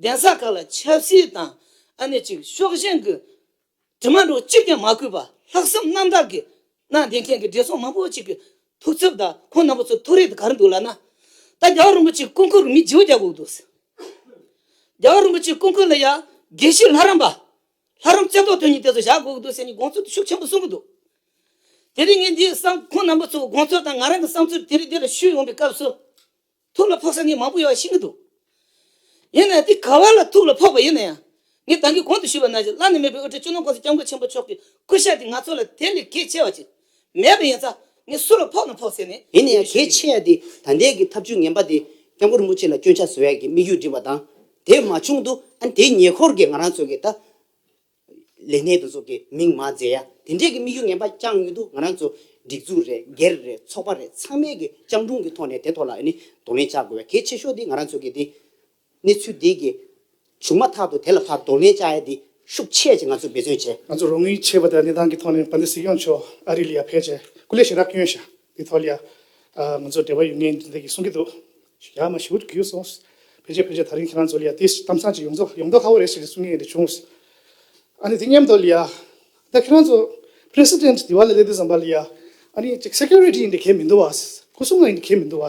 གདན་ས་ཁག་ལ་ཆབ་སྲིད་དང་ཨ་ནེ་ཅིག་ཤོག་གཞན་གྱི་དྲི་མ་འདྲོག་གཅིག་ཀྱང་མ་གུས་པར་ལྷག་བསམ་རྣམ་དག་གིས་གནའ་དེང་མཁན་གྱི་བགྲེས་སོང་མང་པོ་ཅིག་གི་ཐུགས་འཚབ་དང་ཁོང་རྣམ་པ་ཚོ་ཐུགས་རེ་དང་གར་འདུག་ལབ་ན། ད་རྒྱ་བ་རིན་པོ་ཆེའི་སྐུ་འཁོར་རུ་མི་བྱིའུ་བརྒྱ་བཀུག་འདུག། རྒྱ་བ་རིན་པོ་ཆེའི་སྐུ་འཁོར་ལ་ཡང་དགེ་བཤེས་ལྷ་རམས་པ་ལྷ་རམས་རྩེ་ཐོག་དོན་གཉིས་དེ་ཚོ་བཞག་དགོས་ཀྱི་འདུག་ཟེར་ནས་དགོངས་ཚུལ་ཤུགས་ཆེན་པོ་གསུངས་ཀྱི་འདུག་དེ་རིང་ངས་འདིའི་བསམ་ཁོང་རྣམ་པ་ཚོའི་དགོངས་ཚུལ་དང་ང་རང་གི་བསམ་ཚུལ་དེ་རིང་འདི་ལ་ཞུས་ཡོང་པའི་སྐབས་སུ། ཐུགས་ལ་ཕོག་ས་ངས་མང་པོ་ཡོད་པ་ཤེས་ཀྱི་འདུག་ཡིན་ནའི་དེ་ག་བ་ལ་ཐུགས་ལ་ཕོག་པ་ཡིན་ན་ཡང་ངས་ད་གིན་གོང་དུ་ཞུས་པ་ན་བཞིན་བླ་ན་མེད་པའི་དབུ་ཁྲིད་ཅུ་ནོར་ཀོང་སི་སྐྱབས་མགོན་ཆེན་པོ་མཆོག་གི་སྐུ་ཞབས་དེ་ང་ཚོ་ལ་དེ་ལས་གལ་ཆེ་བ་ཅིག་མེད་པ་ཡིན་ཙང་ངས་སུ་ལ་ཕོག་ན་ཕོག་ཟེར་ནས་ཡིན་ཡང་གལ་ཆེ་ཡ་དེ་ད་ལྟའི་གི་ཐབས་ཇུས་ངན་པ་དེ་སྐྱབས་མགོན་རིན་པོ་ཆེ་ལ་སྐྱོན་ཆ་བཟོ་ཡ་གི་དམིགས་ཡུལ་འགྲིམ་པ་དང་དེ་མ་བྱུང་དུ་ཨ་དེའི་ཉེ་འཁོར་གི་ང་རང་ཚོ་གི་ད་ལས་སྣེ་དེ་ཚོ་གི་མིང་མ་བརྫད་ཡ་དེ་འདྲའི་གི་དམིགས་ཡུལ་ངན་པ་རྐྱང་ཡོད་དུ་ང་རང་ཚོ་སྒྲིག་འཛུགས་རེད་སྒེར་རེད་ཚོགས་པ་རེད་ཚང་མའི་གི་སྤྱང་གྲུང་གི་ཐོག་ནས་དེ་ཐོག་ལ་ཨ་ནི་གདོང་ལེན་བྱ་དགོས་བ་གལ་ཆེ་ཤོས་དེ་ང་རང་ཚོ་གི་དེ་གནས་ཚུལ་འདི་གི་བྱུང་མ་ཐག་ཏུ་དེ་ལ་བར་དོ་ལན་བཅའ་ཡ་འདི་ཤུགས་ཆེ་ཅེས་ང་ཚོས་འབད་བརྩོན་བྱས། ང་ཚོ་རང་ཉིད་ཆེས་བ་དའི་གནས་སྟངས་ཀྱི་ཐོག་ནས་བ་དའི་སྲིད་སྐྱོང་མཆོག་ཨ་རི་ལི་ཡ་ཕེ་ཆེ་སྐུ་ལས་ཤི་རག་སྐྱོན་ཞག་དེའི་ཐོག་ལི་ཡ་ང་ཚོ་འབྲེལ་བ་ཡོད་ངེས་འདི་འདི་གི་གསུང་གི་འདུག་ཞག་མ་ཞུ་གུ་སོང་ཕེ་ཆེ་ཕེ་ཆེ་ད་རིང་ཁྱེད་རང་ཚོ་ལི་ཡ་དེ་གཏམ་བཟང་ཅིག་ཡོང་ཚོ་ཡོང་མདོག་ཧ་བོ་རེད་ཞེས་གསུང་ངེས་འདི་བྱུང། ཨ་ནི་དེ་སྙམ་མདོག་ལི་ཡ་ད་ཁྱེད་རང་ཚོ president དེ་བ་ལ་ལས་དེ་བཟང་བ་ལི་ཡ་ཨ་ནི་གཅིག security འདི་གས་མི་འདུག་བ་སྐུ་སྲུང་འདི་གས་མི་འདུག་བ།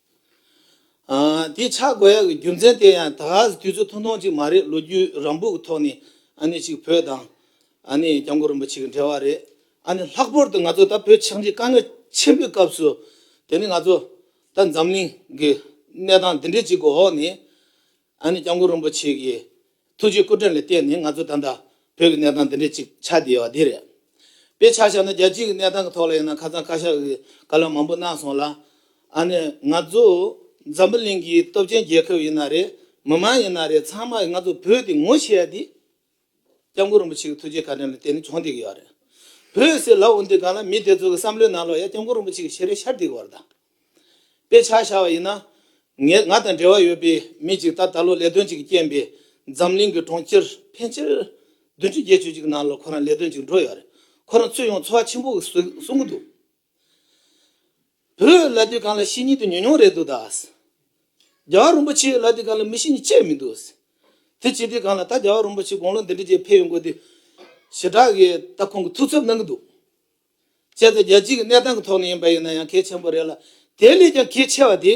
དེའི་ཆ་བགོ་ཡག་གི་རྒྱུ་མཚན་དེ་ཡང་ད་གཟ་དུས་ཚོད་ཐུང་ཐུང་ཅིག་མ་རེད་ལོ་རྒྱུས་རང་འབུག་གི་ཐོག་ནས་གཅིག་བོད་དང། སྐྱབས་མགོན་རིན་པོ་ཆེ་གི་འབྲེལ་བ་རེད། ལྷག་པོར་དུ་ང་ཚོ་ད་བོད་ཕྱག་འཇིག་དཀའ་ངལ་ཆེན་པོའི་སྐབས་སུ། དེ་ནི་ང་ཚོ་ད་འཛམ་གླིང་གི་གནས་སྟངས་འདི་འདྲའི་ཅིག་གི་འོག་ནས། ཨ་ནེ་སྐྱབས་མགོན་རིན་པོ་ཆེ་གིས་ཐུགས་རྗེའི་སྐུ་དྲིན་ལ་བརྟེན་ནས་ང་ཚོ་ད་ལྟ་བོད་ཀྱི་གནས་སྟངས་འདི་འདྲའི་ཅིག་ཆགས་བསྡད་ཡོད་པ་འདི་རེད། དཔེ་ཆ་བཞག་ན་རྒྱལ་སྤྱིའི་གནས་སྟངས་ཀྱི་ཐོག་ལ་ཡིན་ན་ཁ་ཚང་བཀའ་ཤག་གིས་བཀའ་སློབ་མང་པོ་གནང་སོང་ལ། ཨ་ནེ་ང་ཚོ་འཛམ་བུ་གླིང་གི་སྟོབས་ཆེན་རྒྱལ་ཁབ་ཡིན་ན་རེད་མི་མང་ཡིན་ན་རེད་ཚང་མ་ཡིས་ང་ཚོ་བོད་འདི་ངོ་ཤེས་ཡ་འདི། སྐྱབས་མགོན་རིན་པོ་ཆེ་གི་ཐུགས་རྗེའི་བཀའ་དྲིན་ལ་དེ་ནི་ཅུང་འདེགས་ཡོད་རེད། བོད་ཡུལ་སའི་ལའུ་འདི་སྒང་ལ་མི་དེ་ཚོ་གི་བསམ་བློའི་ནང་ལོག་ཡ་སྐྱབས་མགོན་རིན་པོ་ཆེ་གི་ཞལ་རས་ཤར་འདེགས་བར་དང། དཔེ་ཆ་ཤར་བ་ཡིན་ན། ང་དང་འབྲེལ་བ་ཡོད་པའི་མི་ཅིག་ད་ད་ལོ་ལས་དོན་ཅིག་གི་རྐྱེན་པས་འཛམ་གླིང་གི་གྲོང་ཁྱེར་ཕལ་ཆེར་བདུན་ཅུ་བརྒྱད་ཅུ་ཅིག་གི་ནང་ལ་ཁོ་རང་ལས་དོན་ཅིག་འགྲོ་ཡོད་རེད། ཁོ་རང་ཚུད་ཡོང་འཚོ་བ་ཆེན་པོ་གཟུགས་གཟུང་གི་འདུག། བུ་ལ་དུས་གང་ལ་ཤེས་ཉིད་དུ་ཉོན་མྱོང་རེ་འདུག་ད། རྒྱལ་བ་རིན་པོ་ཆེས་ལ་དུས་གང་ལ་མི་ཤེས་ཉིད་ཅེས་མི་འདུག། དེ་བྱས་དུས་གང་ལ་ད་རྒྱལ་བ་རིན་པོ་ཆེས་དགུང་ལོ་འདི་འདྲའི་རྗེས་ཕེབས་ཡོང་དགོས་དུས། ཞེ་དྲག་གིས་ད་ཁོང་གི་ཐུགས་འཚབ་གནང་གི་འདུག། བྱས་ཙང་རྒྱལ་སྤྱིའི་གནས་སྟངས་ཀྱི་ཐོག་ནས་ཡིན་པ་ཡིན་ན་ཡང་གལ་ཆེན་པོ་རེད་ལ། དེ་ལས་ཀྱང་གལ་ཆེ་བ་དེ།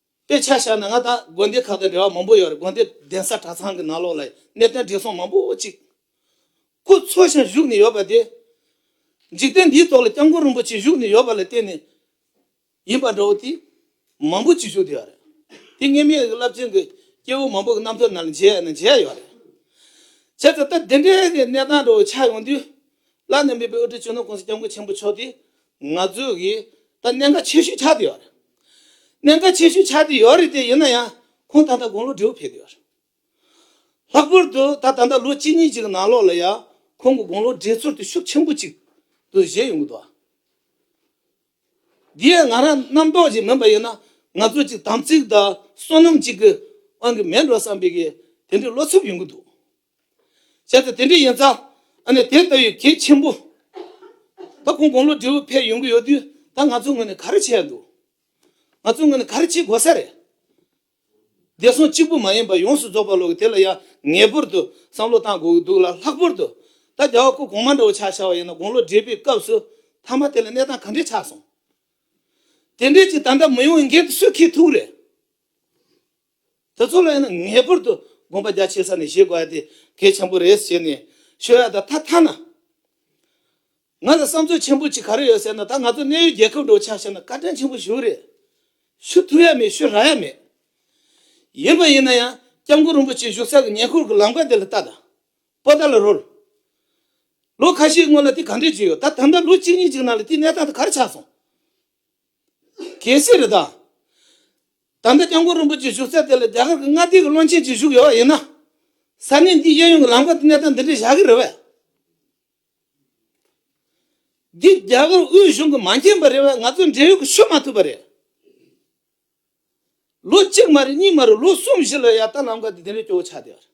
དཔེ་ཆ་བཞག་ན་ང་དང་དགོན་སྡེ་ཁག་དང་འབྲེལ་བ་མང་པོ་ཡོད་རེད་དགོན་སྡེ་གདན་ས་གྲྭ་ཚང་གི་ནང་ལོགས་ལ་གནད་དོན་བགྲེས་སོང་མང་པོ་གཅིག་སྐུ་འཚོ་ཞིང་བཞུགས་ནས་ཡོད་པ་དེ། འཇིག་རྟེན་འདིའི་ཐོག་ལ་སྐྱབས་མགོན་རིན་པོ་ཆེ་བཞུགས་ནས་ཡོད་པ་ལ་བརྟེན་ནས་ཡིན་པ་འདྲ་བོ་དེ་མང་པོ་གཅིག་བཞུགས་དེ་ཡོད་རེད། དེ་ངེད་མི་རིགས་རླབས་ཆེན་གྱི་སྐྱེ་བོ་མང་པོ་གྱི་རྣམ་ཐོས་ན་ལ་མཇལ་ཡས་ན་མཇལ་ཡོད་རེད། བྱས་ཙང་ད་དེ་འདྲའི་གནས་སྟངས་འདྲ་བོ་ཆགས་ཡོང་དུས་བླ་ན་མེད་པའི་དབུ་ཁྲིད་ཆོས་ནོར་ཀུང་སི་སྐྱབས་མགོན་ཆེན་པོ་མཆོག་དེ་ང་ཚོས་གིས་ད་གནད་འགག་ཆེ་ཤོས་ཆགས་བསྡད་ཡོད་རེད། གནད་འགག་ཆེ་ཤོས་ཆགས་བསྡད་ཡོད་རེད་དེ་ཡིན་ན་ཡང་ཁོང་ད་ལྟ་དགུང་ལོ་དྲུག་ཕེབས་བསྡད་ཡོད་རེད། ལྷག་པར་དུ་ད་ད་ལྟ་ལོ་གཅིག་གཉིས་ཅིག་གི་ནང་ལོགས་ལ་ཡང་ཁོང་གི་དགུང་ལོ་བགྲེས་ཚོར་དེ་ཤུགས་ཆེན་པོ་ཅིག་ཏུ་བཞད་ཡོང་གི་འདུག་ཨ། འདི་ཡང་ང་རང་རྣམ་རྟོག་ཅིག་མིན་པ་ཡིན་ན་ང་ཚོ་ཅིག་དམ་ཚིག་དང་བསོད་ནམས་ཅིག་གི་དབང་གིས་མེད་འགྲོ་བསམ་པའི་གིས་དེ་འདྲའི་བློ་འཚུབ་ཡོང་གི་འདུག་བྱས་ཙང་དེ་འདྲ་ཡིན་ཙང་ཨ་ནི་དེ་ལྟ་བུའི་གེགས་ཆེན་པོ་ད་ཁོང་དགུང་ལོ་དྲེའུ་ཕལ་ཡོང་གི་ཡོད་དུས་ད་ང་ཚོའི་ངོས་ནས་ག་རེ་བྱས་འདུག་ང་ཚོའི་ངོས་ནས་ག་རེ་བྱེད་དགོས་ས་རེད། བདེ་སྲུང་གཅིག་པུ་མ་ཡིན་པར་ཡོངས་སུ་རྫོགས་པར་ལོག་གི་དེ་ལ་ཡང་ངེས་པར་དུ་བསམ་བློ་གཏང་དགོས་ཀྱི་འདུག་ལ་ལྷག་པར་དུ་ད་རྒྱ་བ་ཁོ་གོང་མ་འདྲ་བོ་ཆགས་ཤར་བ་ཡིན་ན་དགུང་ལོ་དྲེས་པའི་སྐབས་སུ་ཐ་མ་དེ་ལ་གནས་སྟངས་ག་འདྲས་ཆགས་སོང་དེ་འདྲས་ཀྱི་ད་འདྲ་མི་ཡོང་བའི་འགན་དེ་སུས་ཁེལ་ཐུག་རེད། དེ་ཚོ་ལ་ཡང་ན་ངེས་པར་དུ་དགོངས་པ་རྒྱ་ཆེ་ས་ནས་བཞེས་དགོས་དེ་གལ་ཆེན་པོ་རེད་ཟེར་ནས་ཤོད་ཡག་ད་ཐ་ཐ་ན། ང་ལ་བསམ་ཚུལ་ཆེན་པོ་གཅིག་ག་རེ་ཡོད་ཟེར་ན་ད་ང་ཚོ་གནས་ཡུལ་རྒྱལ་ཁབ་འགྲོ་ཆགས་བྱས་ན་བཀའ་དྲིན་ཆེན་པོ་ཞུ་གི་རེད། ཞུ་ཐུབ་ཡ་མེད་ཞུ་རག་ཡ་མེད། ཡིན་པ་ཡིན་ན་ཡང་སྐྱབས་མགོན་རིན་པོ་ཆེ་བཞུགས་ས་གི་ཉེ་འཁོར་གི་ལམ་ཀ་དེ་ལ་ལྟ་ད། པོ་ད་ལ་རོལ། ལོ་ཁ་ཤས་སྔོན་ལ་དེ་ག་འདྲས་བྱས་ཡོད་ད་ད་ལྟ་ལོ་གཅིག་གཉིས་གཅིག་ནང་ལ་དེའི་གནས་སྟངས་དེ་ག་རེ་ཆགས་སོང། གལ་སྲིད་རེ་དང། ད་ལྟ་སྐྱབས་མགོན་རིན་པོ་ཆེ་བཞུགས་སའི་དེ་ལ་རྒྱ་གར་གྱི་མངའ་སྡེ་གྱི་བློན་ཆེན་ཅིག་བཞུགས་ཡོད་པ་ཡིན་ན། ས་གནས་འདིའི་གཡས་གཡོན་གྱི་ལམ་ཁ་དུ་གནས་སྟངས་འདི་འདྲའི་བཞག་གི་རེད་བས། འདི་རྒྱ་གར་དབུས་གཞུང་གིས་མ་མཁྱེན་པ་རེད་བས་ང་ཚོས་འབྲེལ་ཡོད་ཀྱི་ཤོད་མ་ཐུབ་པ་རེད། ལོ་གཅིག་མ་རེད་གཉིས་མ་རེད་ལོ་གསུམ་བཞི་ལོའི་ཡར་ལྟ་ལམ་ཁ་དུ་འདི་འདྲའི་སྐྱོ་བོ་ཆགས་བསྡད་པ་རེད།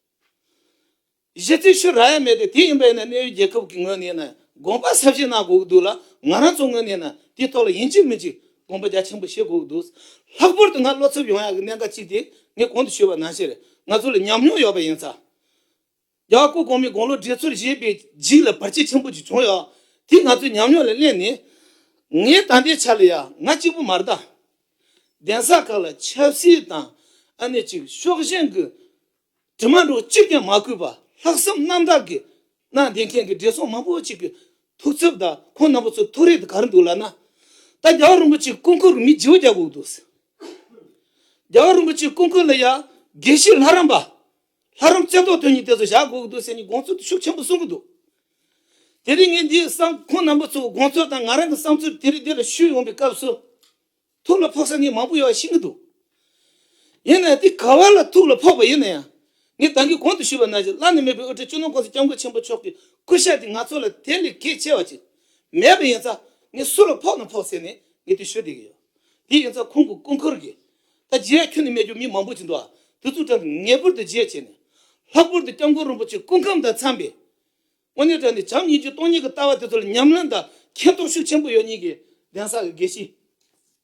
གཞི་རྩའི་ཤུ་ར་ཡ་མེད་དེ་དེ་ཡིན་པས་ན་གནས་ཡུལ་རྒྱལ་ཁབ་ཀྱི་ངོས་ནས་ནི་དགོངས་པ་ཟབ་བཞེས་གནང་དགོས་ཀྱི་འདུག་ལ་ང་རང་ཚོ་ངོས་ནས་ནི་དེའི་ཐོག་ལ་ཡིན་གཅིག་མིན་གཅིག་དགོངས་པ་རྒྱ་ཆེན་པོ་བཞེས་དགོས་ཀྱི་འདུག་ལྷག་པོར་དུ་ང་བློ་འཚབ་ཡོང་ཡག་གི་གནད་འགག་ཅིག་དེ་ངས་གོང་དུ་ཞུས་པ་ནང་བཞིན་ང་ཚོ་ལ་ཉམས་མྱོང་ཡོད་པ་ཡིན་ཙང། རྒྱ་བ་སྐུ་གོང་མའི་དགུང་ལོ་བགྲེས་ཚོར་བཞེས་པའི་རྗེས་ལ་བར་ཆད་ཆེན་པོ་ཅིག་བྱུང་ཡོད། དེ་ང་ཚོའི་ཉམས་མྱོང་ལ་གླེང་ནས། ངའི་ད་ལྟའི་ཆ་ལ་ཡང་ང་གཅིག་པུ་མ་རྟ། གདན་ས་ཁག་ལ་ཆབ་སྲིད་དང་ཨ་ནེ་ཅིག་ཕྱོགས་ཞེན་གྱི། དྲི་མ་འགྲོ་གཅིག་ཀྱང་མ་གུས་པར་ལྷག་བསམ་རྣམ་དག་གིས་གནའ་དེང་མཁན་གྱི་བགྲེས་སོང་མང་པོ་ཅིག་གི་ཐུགས་འཚབ་དང་ཁོང་རྣམ་པ་ཚོའི་ཐུགས་རེ་དེ་ག་རེ་འདུག་ལགས་ན། ད་རྒྱ་གར་རིན་པོ་ཆེའི་སྐུ་མཁོན་རུ་མི་བརྗེ་བོ་རྒྱག་དགོས་ཀྱི་འདུག་ཟེར། རྒྱ་གར་རིན་པོ་ཆེའི་སྐུ་མཁོན་ལ་ཡང་དགེ་བཤེས་ལྷ་རམས་པ། ལྷ་རམས་རྩེ་བཏོག་དོན་གཉིས་དེ་ཚོ་བཞག་དགོས་ཀྱི་འདུག་ཟེར་ནས་དགོངས་ཚུལ་དེ་ཤུགས་ཆེན་པོ་གསུང་གི་འདུག་དེ་རིང་ངས་འདིའི་བསམ་ཁོང་རྣམ་པ་ཚོའི་དགོངས་ཚུལ་དང་ང་རང་གི་བསམ་ཚུལ་དེ་རིགས་འདི་ལ་ཞུས་ཡོང་པའི་སྐབས་སུ། ཐུགས་ལ་ཕོག་ས་ངས་མང་པོ་ཡོད་ཤེས་ཀྱི་འདུག་ཡིན་ནའི་དེ་ག་བ་ལ་ཐུགས་ལ་ཕོག་པ་ཡིན་ན་ཡང་ངས་ད་གིན་གོང་དུ་ཞུས་པ་ན་བཞིན་བླ་ན་མེད་པའི་དབུ་སྐྲའི་གཅུང་ནོར་ཀུང་སི་སྐྱབས་མགོན་ཆེན་པོ་མཆོག་གི་སྐུ་ཞབས་དེ་ང་ཚོ་ལ་དེ་ལས་གལ་ཆེ་བ་ཅིག་མེད་པ་ཡིན་ཙང་ངས་སུ་ལ་ཕོག་ན་ཕོག་ཟེར་ནས་ངས་དེ་ཞུ་བསྡད་ཀྱི་ཡོད། དེ་ཡིན་ཙང་ཁོང་གི་སྐུ་འཁོར་གྱིས། ད་རྗེ་ཡབ་ཁྱོད་ནི་སྨད་རྒྱུད་མི་མང་པོ་ཅིག་འདུག་ཨ། དེ་ཚོའི་གྲངས་ངེས་པར་དུ་བརྗེད་བྱས་ནས། ལྷག་པར་དུ་སྐྱབས་མགོན་རིན་པོ་ཆེ་སྐུ་ཁམས་དང་འཚམས་པའི། དངོས་གནས་དྲན་ནས་བྱམས་སྙིང་རྗེ་སྟོང་ཉིད་ཀྱི་ལྟ་བ་དེ་ཚོ་ལ་ཉམས་ལེན་དང་མཁྱེན་རྟོགས་ཤུགས་ཆེན་པོ་ཡོད་ཉིད་ཀྱིས་གདན་ས་གི་དགེ་བཤེས།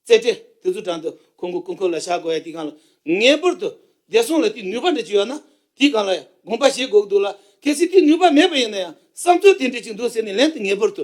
རྩེ་གྲས་དེ་ཚོའི་དྲུང་དུ་ཁོང་གི་སྐུ་འཁོར་ལ་ཞག་དགོས་ཡ་དེའི་སྒང་ལ་ངེས་པར་དུ་བདེ་སྲུང་ལ་དེའི་ནུས་པ་འདྲ་ཅིག་ཡོད་ན་དེའི་སྒང་ལ་ཡང་དགོངས་པ་བཞེས་དགོས་ཀྱི་འདུག་ལ་གལ་སྲིད་དེའི་ནུས་པ་མེད་པ་ཡིན་ན་ཡང་བསམ་ཚུལ་དེ་འདྲ་ཅིག་འདུག་ཟེར་ནས་ལན་དུ་ངེས་པར་དུ།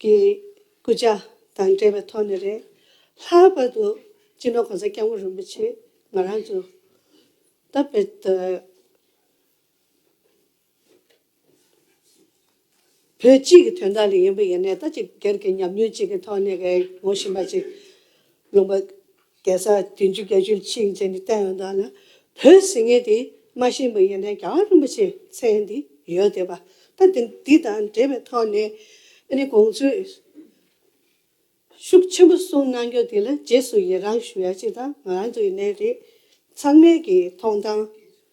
གི་སྐུ་ཕྱྭ་དང་འབྲེལ་བའི་ཐོག་ནས་རེད། ལྷག་པར་དུ་སྤྱི་ནོར་གོང་ས་སྐྱབས་མགོན་རིན་པོ་ཆེས་ང་རང་ཚོ་སྟབས་བདེ་བོད་སྤྱི་གི་དོན་དག་ལ་ཡིན་པ་ཡིན་ནས་ད་ཅི་སྒེར་གྱི་ཉམས་མྱོང་གཅིག་གི་ཐོག་ནས་ངོ་ཤེས་པ་ཅིག་ལོངས་པ་རྒྱལ་ས་བདུན་ཅུ་བརྒྱད་ཅུ་གཅིག་མཛད་ནས་བསྟན་འོག་ན་བོད་ཟེར་མཁན་དེ་རྨ་ཤིང་པ་ཡིན་ན་རྒྱ་གར་རིན་པོ་ཆེ་མཚན་དེ་ཡོད་དེ་བ་ད་འདི་དང་འབྲེལ་བའི་ཐོག་ནས་ཨ་ནི་གོང་ཚོས་ཤུགས་ཆེན་པོ་གསུང་གནང་རྒྱུ་དེ་ལ་རྗེས་སུ་ཡི་རང་ཞུ་ཡ་ཅིག་དང་ང་རང་ཚོ་ཡིན་ནའི་རེད་ཚང་མས་ཀྱི་ཐོང་ཐང་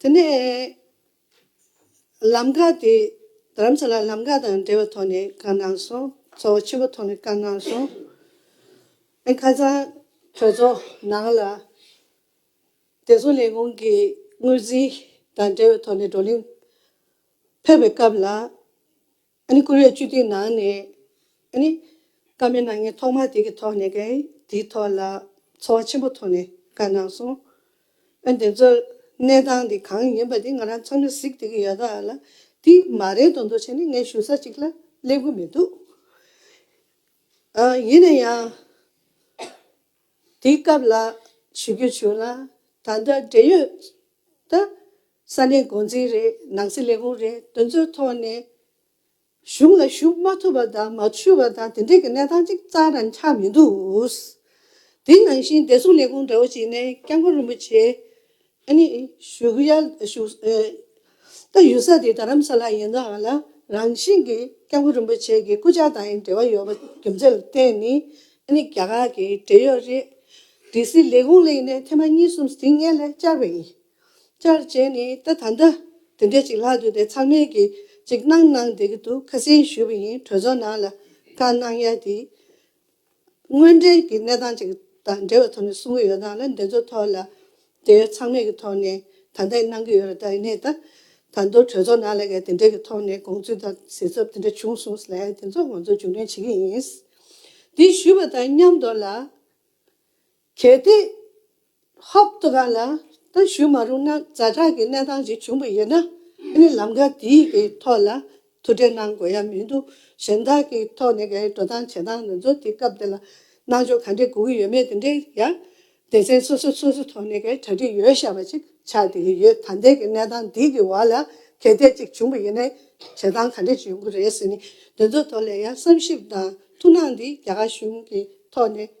དེ་ནས་ལམ་ཁ་དེ་རྡ་རམ་ས་ལ་ལམ་ཁ་དང་འབྲེལ་བའི་ཐོག་ནས་བཀག་གནང་སོང། གཙོ་བོ་ཆེན་པོ་ཐོག་ནས་བཀག་གནང་སོང། ཨན་ཁ་སང་གྲོས་ཚོགས་ནང་ལ་བདེ་སྲུང་ལས་ཁུངས་ཀྱི་དངུལ་རྩིས་དང་འབྲེལ་བའི་ཐོག་ནས་བགྲོ་གླེང་ཕེབས་པའི་སྐབས་ལ། ཨ་ནི་ཀུ་རེ་བཅུ་དུས་ནང་ནས་ཨ་ནི། ཀ་མེད་ན་ངས་ཐོག་མར་དེ་གི་ཐོག་ནས་ཀ་ཡིན་དེའི་ཐོག་ལ་ཚོར་བ་ཆེན་པོ་ཐོག་ནས་ཀ་གནང་སོང། ཨ་དེ་ཚོ་གནས་སྟངས་དེ་གང་ཡིན་པ་དེ་ང་རང་ཚང་མས་གཟིགས་དེ་གི་ཡོད་ད་ལ། དེ་མ་རེད་དོ་འདུག་བྱས་ནས་ངས་ཞུ་ས་ཅིག་ལ་སླེབས་གི་མི་འདུག། ཡིན་ན་ཡང། དེའི་སྐབས་ལ་ཞུ་རྒྱུ་བྱུང་ན་ད་ལྟ་འབྲེལ་ཡོད་ད་ས་གནས་མགོ་འཛིན་རེད་ནང་སྲིད་ལས་ཁུངས་རེད་དེ་ཚོའི་ཐོག་ནས་གཞུང་ལ་ཞུ་མ་ཐུབ་པ་དང་མ་ཞུས་པ་དང་དེ་འདྲའི་གི་གནས་སྟངས་ཅིག་ཙང་རང་ཆགས་མི་འདུག་དེ་ནང་བཞིན་བདེ་སྲུང་ལས་ཁུངས་འདྲ་བོ་ཞིག་ནས་སྐྱབས་མགོན་རིན་པོ་ཆེ་ཨ་ནི། བཞུགས་ཡ། བཞུགས། ད་ཡུལ་ས་དེ་རྡ་རམ་ས་ལ་ཡིན་ནའང་ལ་རང་བཞིན་གྱིས་སྐྱབས་མགོན་རིན་པོ་ཆེ་གི་སྐུ་ཕྱྭ་དང་ཡང་འབྲེལ་བ་ཡོད་པ་རྒྱུ་མཚན་ལ་བརྟེན་ནས་ཨ་ནི་རྒྱ་གར་གྱི་འབྲེལ་ཡོད་རེད། སྡེ་སྲིད་ལས་ཁུངས་ལ་ཡིན་ནའི་ཐེངས་མ་གཉིས་གསུམ་སྡིག་ངན་ལས་བཅར་བས་ཡིན། བཅར་བྱས་ནས་ད་ད་ལྟ་དེ་འདྲས་ཅིག་ལྷག་འདུག་དེ་ཚང་མས་གི་ཅིག་གནང་གནང་བསྡད་ཀྱི་འདུག་ཁ་སེང་ཞུས་པ་ཡིན་གྲོས་ཚོགས་ནང་ལ་བཀའ་གནང་ཡ་དེ། དངོས་འབྲེལ་གྱི་གནས་སྟངས་ཅིག་དང་འབྲེལ་བའི་ཐོག་ནས་གསུང་གི་ཡོད་སྟངས་ལ་འདི་ཚོ་ཐོག་ལ་དེ་ཚང་མེད་ཀྱི་ཐོག་ནས་ད་ལྟ་ཡི་གནང་གི་ཡོད་རེད་ད་ཡི་གནས་ད་ད་མདོ་གྲོས་ཚོགས་ནང་ལ་ཡ་དེ་འདྲའི་གི་ཐོག་ནས་དགོངས་ཚུལ་དང་གཟིགས་ཚབ་དེ་འདྲ་བྱུང་སོང་ལ་ཡ་དེ་ཚོ་ང་ཚོ་མཇུག་འགྲན་བྱེད་ཀྱི་ཡིན། དེ་ཞུས་པ་དང་མཉམ་མདོ་ལ། གལ་ཏེ། ཧཱུྃ། དུ་ཁ་ན་ད་ཞུ་མ་རུང་ན་རྫ་དྲག་གི་གནས་སྟངས་ཞིག་བྱུང་བ་ཡིན་ན་ཁྱེད་ནི་ལམ་ཁ་འདི་ཡི་ཐོག་ལ་ཐུག་འཕྲད་གནང་དགོས་ཡ་མི་འདུག་གཞན་དག་གི་ཐོག་ནས་འགའ་ཡི་འགྲོ་སྟངས་བྱེད་སྟངས་ང་ཚོ་དེ་སྐབས་དེ་ལ་གནང་ཕྱོགས་ག་འདྲས་སྒུག་གི་ཡོད་མེད་དེ་འདྲས་ཡ། སྡེ་ཚན་སོ་སོས་སོ་སོའི་ཐོག་ནས་འགའ་ཡི་གྲ་སྒྲིག་ཡོད་ཤག་པ་ཅིག་ཆགས་དེ་ཡི་ཡོད་ད་ལྟའི་གི་གནས་སྟངས་འདི་གི་བར་ལ་གལ་ཏད་ཅིག་བྱུང་བ་ཡིན་ན་བྱེད་སྟངས་ག་འདྲས་ཅིག་ཡོང་གི་རེད་ཟེར་ནས་དེ་ཚོའི་ཐོག་ལ་ཡ་བསམ་ཞིབ་དང་ཐུགས་སྣང་འདི་རྒྱ་གར་གཞུང་གི་ཐོག་ནས།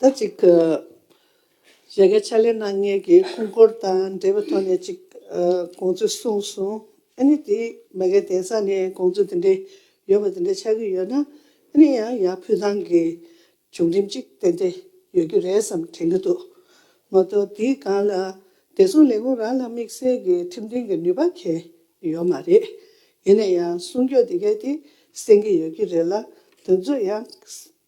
ཟླ་གཅིག་གི་རེ་འགའི་ཕྱག་ལས་གནང་མཁན་གྱི་སྐུ་འཁོར་དང་འབྲེལ་བའི་ཐོག་ནས་ཅིག་དགོངས་ཚུལ་གསུངས་སོང། ཨཱ་ནི་དེ་མ་གལ་དེང་སང་ནས་དགོངས་ཚུལ་དེ་འདྲའི་ཡོད་པ་དེ་འདྲ་ཆགས་ཀྱི་ཡོད་ན་ཨཱ་ནི་ཡང་ཡང་ཕུལ་ཐང་གི་བྱུང་རིམ་ཅིག་དེ་འདྲ་ཡོད་རྒྱུ་རེད་བསམ་དྲན་གྱི་འདུག་ངོ་གདོང་དེའི་སྒང་ལ་བདེ་སྲུང་ལས་ཁུངས་རང་ལ་དམིགས་བསལ་གྱི་ཁྲིམས་མཐུན་གྱི་ནུས་པ་ཁེལ་ཡོད་མ་རེད། ཡིན་ན་ཡང་གསུང་སྐྱོང་དེ་གའི་དེ་གསན་གྱི་ཡོད་རྒྱུ་རེད་ལ་དོན་གཙོ་ཡང་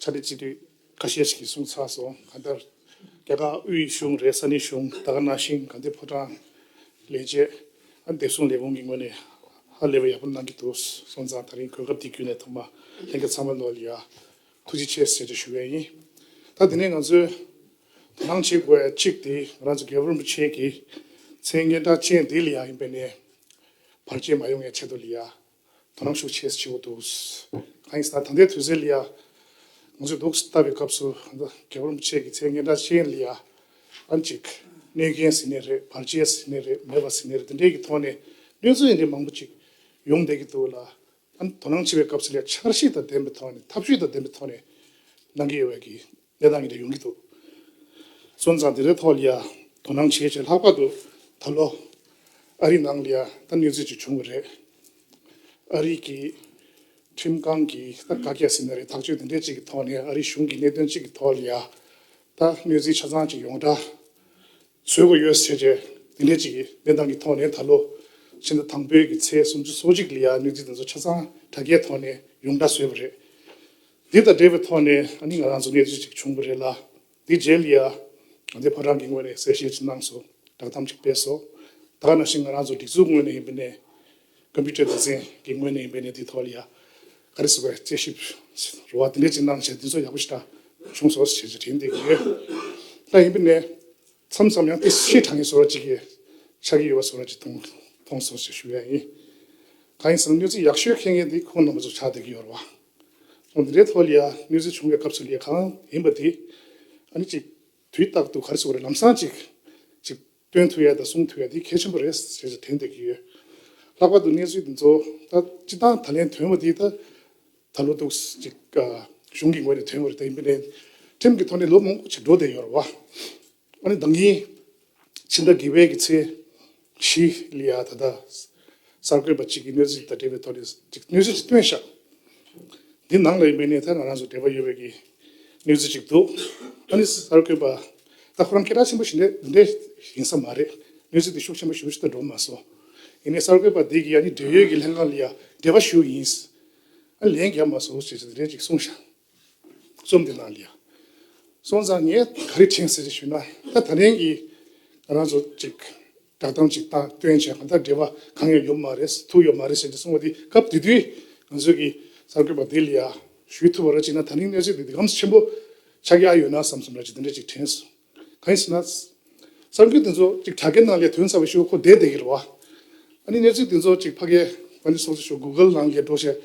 ཆ་འདི་གཅིག་དུས་ཁ་ཤས་ཤིག་གསུངས་ཚར་སོང་ག་ལྟར། རྒྱ་གར་དབུས་གཞུང་རེད་ས་གནས་གཞུང་ད་ག་ནང་བཞིན་ག་འདི་ཕོ་བྲང་ལས་བྱེད་ཨ་འདེབས་སོང་ལས་ཁུངས་ཀྱི་ངོས་ནས་ཧ་ལས་པ་ཡག་པོ་གནང་གི་འདུག་སོང་ཙང་ད་རིང་གོས་སྐབས་འདི་བརྒྱུད་ནས་ཐོག་མ་ལྷན་རྒྱ་ཚང་མ་ནོར་ཡ། ཐུགས་རྗེ་ཆེ་ཟེར་རེ་ཞུ་བས་ཡིན། ད་དེ་ནས་ང་ཚོས་དོ་སྣང་བྱེད་དགོས་གཅིག་དེ་ང་རང་ཚོ་རྒྱལ་པོ་རིན་པོ་ཆེ་གི་མཚན་སྙན་གྲགས་ཅན་དེ་ལ་ཡ་ཡིན་པས་ནས་བར་ཆད་མ་ཡོང་ཡ་ཆེད་དུ་ལ་ཡ་དོ་སྣང་ཤུགས་ཆེ་བྱེད་དགོས་འདུག་གང་ཡིན་ཟེར་ན་ད་ལྟའི་དུས་ཚོད་ལ་ཡང་ང་ཚོས་སྡུག་ཟ་བའི་སྐབས་སུ་རྒྱ་བོར་མི་ཆེ་གི་ཚེ་ངན་སྒྲ་ཅན་ལ་ཡང་ཨང་ཅིག་གནོད་མཁན་ཟེར་ནི་རེད་བར་ཆད་ཟེར་ནི་རེད་མེད་པ་ཟེར་ནི་རེད་འདི་འདྲའི་གི་ཐོག་ནས་གནོད་འཚེ་འདྲའི་མང་པོ་ཅིག་ཡོང་བསྡད་ཀྱི་འདུག་ལ། དོ་སྣང་བྱེད་པའི་སྐབས་སུ་ལ་འཆར་གཞི་དང་ལྡན་པའི་ཐོག་ནས་ཐབས་ཇུས་དང་ལྡན་པའི་ཐོག་ནས་གནང་གི་ཡོད་པ་གི་གནས་སྟངས་འདི་རིགས་ཡོང་གི་འདུག་སོན་ཙང་དེ་རིགས་ཐོག་ལ་ཡང་དོ་སྣང་བྱེད་ཆེད་ལྷག་པར་དུ་ད་ལོ་ཨ་རིའི་ནང་ལ་ཡང་ད་གནོད་འཚེ་ཅིག་བྱུང་བ་རེད། ཨ་རིའི་གི་ཁྲིམས་ཁང་གི་ད་བཀའ་རྒྱ་ཟེར་ན་རེད་ཐག་གཅོད་དེ་འདྲས་ཅིག་གི་ཐོག་ནས་ཨ་རིའི་གཞུང་གི་གནད་དོན་ཅིག་གི་ཐོག་ལ་ཡང་ད་གནོད་འཚེ་ཆ་ཚང་ཅིག་ཡོང་གྲ་བཟོས་དགོས་ཡོད་ཟེར་ཆེད་དེ་འདྲས་ཅིག་གི་གནས་སྟངས་ཀྱི་ཐོག་ནས་ད་ལོ་ཕྱི་ཟླ་དང་པོའི་གི་ཚེས་སུམ་ཅུ་སོ་གཅིག་ལ་ཡང་གནོད་འཚེ་དེ་ཚོ་ཆ་ཚང་དྲ་རྒྱའི་ཐོག་ནས་ཡོང་གྲ་བཟོས་པ་རེད། འདི་དང་འབྲེལ་བའི་ཐོག་ནས་ང་རང་ཚོ་གནས་ཚུལ་ཅིག་བྱུང་གི་རེད་ལ། དེའི་རྗེས་ལ་ཡང་ད་ལྟའི་བར་རང་གི་ངོས་ནས་གསལ་བཤད་ཅིག་གནང་སོང་བསྒྲགས་གཏམ་ཅིག་སྤེལ་སོང། ད་ག་ནང་བཞིན་ང་རང་ཚོ་སྒྲིག་འཛུགས་ངོས་ནས་ཡིན་པའི་ནས། Computer Design གི་ངོས་ནས་ཡིན་པའི་ནས་དེའི་ཐོག་ལ་ཡང་ག་རེ་ཟེར་བ་དཔྱད་ཞིབ་རོ་བ་དེ་འདྲས་ཅིག་གནང་བྱས་དེ་ཚོ་ཡག་པོ་ཞིག་དྲ་བྱུང་སོགས་བྱས་རྗེས་དྲན་བསྡད་ཀྱི་ཡོད། ད་ཡིན་པའི་ནས། མཚམས་མཚམས་ཡང་དེ་ཤེས་དྲང་ངེས་སོགས་ཅིག་གི་ཆགས་ཀྱི་ཡོད་པ་སོགས་ཅིག་མཐོང་སོང་ཞེས་ཞུ་ཡ་ཡིན། གང་ཡིན་ཟེར་ན་གནས་ཚུལ་ཡག་ཤོས་མཁན་ངེས་འདི་ཁོང་རྣམ་པ་ཚོ་ཆགས་བསྡད་ཀྱི་ཡོད་རོ་བ། ངོ་འདི་འདྲའི་ཐོག་ལ་ཡང་གནོད་འཚེ་བྱུང་བའི་སྐབས་སུ་ལས་གང་ཡིན་པ་དེ་ཨ་ནི་ཅིག་དུས་རྟག་ཏུ་ག་རེ་སོགས་རེད་ལམ་སང་ཅིག་ཅིག་སྟོན་ཐུབ་ཡ་དང་གསུང་ཐུབ་ཡ་དེ་གལ་ཆེན་པོ་རེད་ཟེར་ཞེས་དྲན་འདོད་ཀྱི་ཡོད། ལྷག་པར་དུ་གནས་ཚུལ་འདི་ཚོ་ད་སྤྱི་བཏང་ད་ལན་དོན་བ་དེ་ད་ད་ལོ་ཏོག་ཅིག་གཞུང་གི་ངོས་ནས་དོན་བ་རེད་དེ་མི་ལན་ཁྲིམས་ཀྱི་ཐོག་ནས་ལོ་མང་པོ་ཅིག་འགྲོ་བསྡད་ཡོད་རེད་བ། ཨ་ནི་བདག་གིས་ཕྱི་ཟླ་དགེ་བྷེ་ཀྱི་ཚེས་བཞི་ལི་ཡ་ད་ལྟ་གསར་འགོད་པ་གཅིག་གིས་གནས་ཚུལ་དང་འབྲེལ་བའི་ཐོག་ནས་གཅིག་གནས་ཚུལ་གཅིག་སྟོན་ཤག་འདི་ནང་ལ་ཡོད་པའི་གནས་ཚལ་ང་རང་ཚོ་འབྲེལ་བ་ཡོད་པའི་གི་གནས་ཚུལ་གཅིག་འདུག་ཨ་ནི་གསར་འགོད་པ་ད་ཁོ་རང་སྐད་གྲགས་ཆེན་པོ་ཞིག་འདི་འདྲའི་ཡིན་ས་མ་རེད་གནས་ཚུལ་དེ་ཤུགས་ཆེན་པོ་ཞུ་ཞིག་ད་འགྲོ་མ་སོང་ཡིན་ནས་གསར་འགོད་པ་འདི་གིས་ཨ་ནི་འབྲེལ་ཡོད་ཀྱི་ལྷན་ཁང་ལི་ཡ་འབྲེལ་བ་ཞུ་ཡིན་ཨ་ལན་རྒྱབ་མ་སོང་ཞེས་ཞེས་འདི་འདྲའི་གཅིག་གསུང་ཤག། རྩོམ་འདི་ལ་ལས་སོང་ཙང་ངས་ག་རེ་དྲན་ཟེར་ཞུས་ན་ད་ད་ལན་གྱི་ང་རང་ཚོ་ཅིག་བསྒྲགས་གཏམ་ཅིག་བཏང་སྟོན་བྱས་གང་ལྟར་འབྲེལ་བ་གང་ཡང་ཡོད་མ་རེད་ཐུག་ཡོད་མ་རེད་ཟེར་ནས་གསུངས་བ་འདི་སྐབས་དེ་དུས་ང་ཚོས་གི་གསར་འགོད་པ་འདི་ལ་ཡ་ཞུས་ཐུབ་བ་ར་ཅིག་ན་ད་ནི་གནས་ཚུལ་འདི་འདི་གམ་ཆེན་པོ་ཆགས་ཀྱི་ཨ་ཡོད་ན་བསམ་སོང་ར་ཅིག་འདི་འདྲ་ཅིག་དྲན་སོང། གང་ཞེ་ན། གསར་འགོད་དེ་ཚོ་ཅིག་དྲ་རྒྱ་ནང་ལས་དོན་ཚར་བའི་ཤོག་ཁོག་བསྡད་བསྡད་ཀྱི་རེད་བ། ཨ་ནི་གནས་ཚུལ་དེ་ཚོ་ཅིག་ཕ་གའི་ང་ལས་སོང་ཚེ་ཤོག Google ནང་ལས་འགྲོ་ཞེས་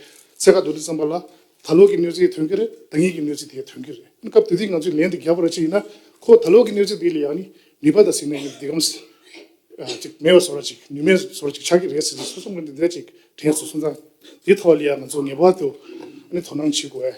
ཚད་ཁ་འདོན་དུས་བསམ་པ་ལ་ད་ལོག་གི་གནས་ཚུལ་དོན་གྱི་རེད་ད་ཉིད་ཀྱི་གནས་ཚུལ་དེ་དོན་གྱི་རེད་ཨ་ནི་སྐབས་དེ་དུས་ང་ཚོས་ལན་དེ་རྒྱག་པར་ཅི་ཡིན་ན་ཁོ་ད་ལོག་གི་གནས་ཚུལ་དེ་ལས་ཨ་ནི་ནུས་པ་དང་སེམས་ནུས་བདེ་སྐམ་ཅིག་མེད་པ་བཟོ་ར་ཅིག་ནུས་མེད་བཟོ་ར་ཅིག་ཆགས་ཀྱི་རེད་ཟེར་ཚེ་སོ་སོ་ངོས་འདི་འདྲ་ཅིག་དྲན་སོང་སོང་ཙང་དེའི་ཐོག་ལ་ལས་ང་ཚོ་ངེས་པར་དུ་ཨ་ནི་དོ་སྣང་བྱེད་དགོས།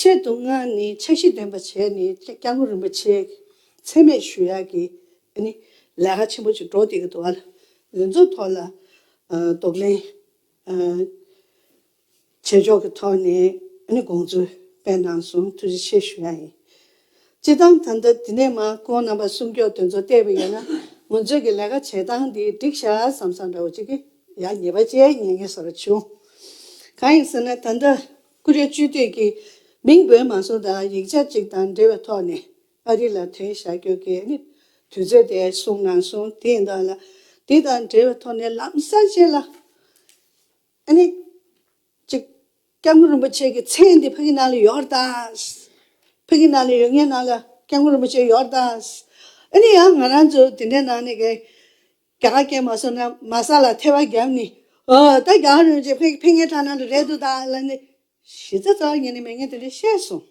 ཆེད་དུ་སྔར་ནི་ཕྱག་བཞི་འདོན་པ་བྱས་ནས་སྐྱབས་ལོ་རིན་པོ་ཆེ་ཚད་མེད་ཞུ་ཡག་གི་ནི་ལས་ཀ་ཆེན་པོ་ཅིག་འགྲོ་འདི་གི་འདུག་ཨ་ལས་འཛུགས་ཐོག་ལ་དོགས་གླེང་བྱེད་ཕྱོགས་ཀྱི་ཐོག་ནས་དགོངས་ཚུལ་སྤེལ་གནང་སོང་ཐུགས་རྗེ་ཆེ་ཞུ་ཡག་ཡིན་སྤྱིར་བཏང་ད་ལྟ་དེ་ནས་མ་ཁོང་རྣམ་པ་སུམ་ཀྱོག་དོན་ཚོ་བལྟས་པ་ཡིན་ན་ང་ཚོས་ཀྱི་ལས་ཀ་བྱེད་སྟངས་འདི་འགྲིག་ཤག་བསམ་བསམ་འདྲ་བོ་ཅིག་གི་ཡག་ཉེས་པ་བཅས་ཉན་ངེས་ས་རུ་བྱུང་གང་ཡིན་ཟེར་ན་ད་ལྟ་ཀུ་རེ་བཅུད་བསྡུས་ཀྱི་མིང་དགོན་མང་ཚོགས་དང་ཡིག་ཆ་གཅིག་དང་འབྲེལ་བའི་ཐོག་ནས་ཨ་རི་ལ་དོན་བྱ་རྒྱུ་དེ་ནི་དུས་ཚོད་དེ་སོང་ན་སོང་དེ་ཡིན་དང་ལ་དེ་དང་འབྲེལ་བའི་ཐོག་ནས་ལམ་སང་བྱས་ལ་ཨ་ནི་ཅིག་སྐྱབས་མགོན་རིན་པོ་ཆེ་གི་མཚན་འདི་ཕ་གི་ནང་ལ་ཡོད་དང། ཕ་གི་ནང་ལ་ཡོད་ངའི་ནང་ལ་སྐྱབས་མགོན་རིན་པོ་ཆེ་ཡོད་དང། ཨ་ནི་ཡང་ང་རང་ཚོ་དེ་འདྲའི་ནང་ནས་གས། རྒྱ་གར་སྐད་མ་སོ་ན་མ་ས་ལ་ཐལ་བ་རྒྱབ་ནི། ཨོ་ད་རྒྱ་གར་རོལ་ཅིག་ཕེ་ངེ་ཁྲ་ནང་དུ་རེད་འདུག་ད་ལ་ནི། གཞི་རྩ་རྩ་བ་ཉིད་ནས་མེད་ངེས་དེ་འདྲས་བཤད་སོང།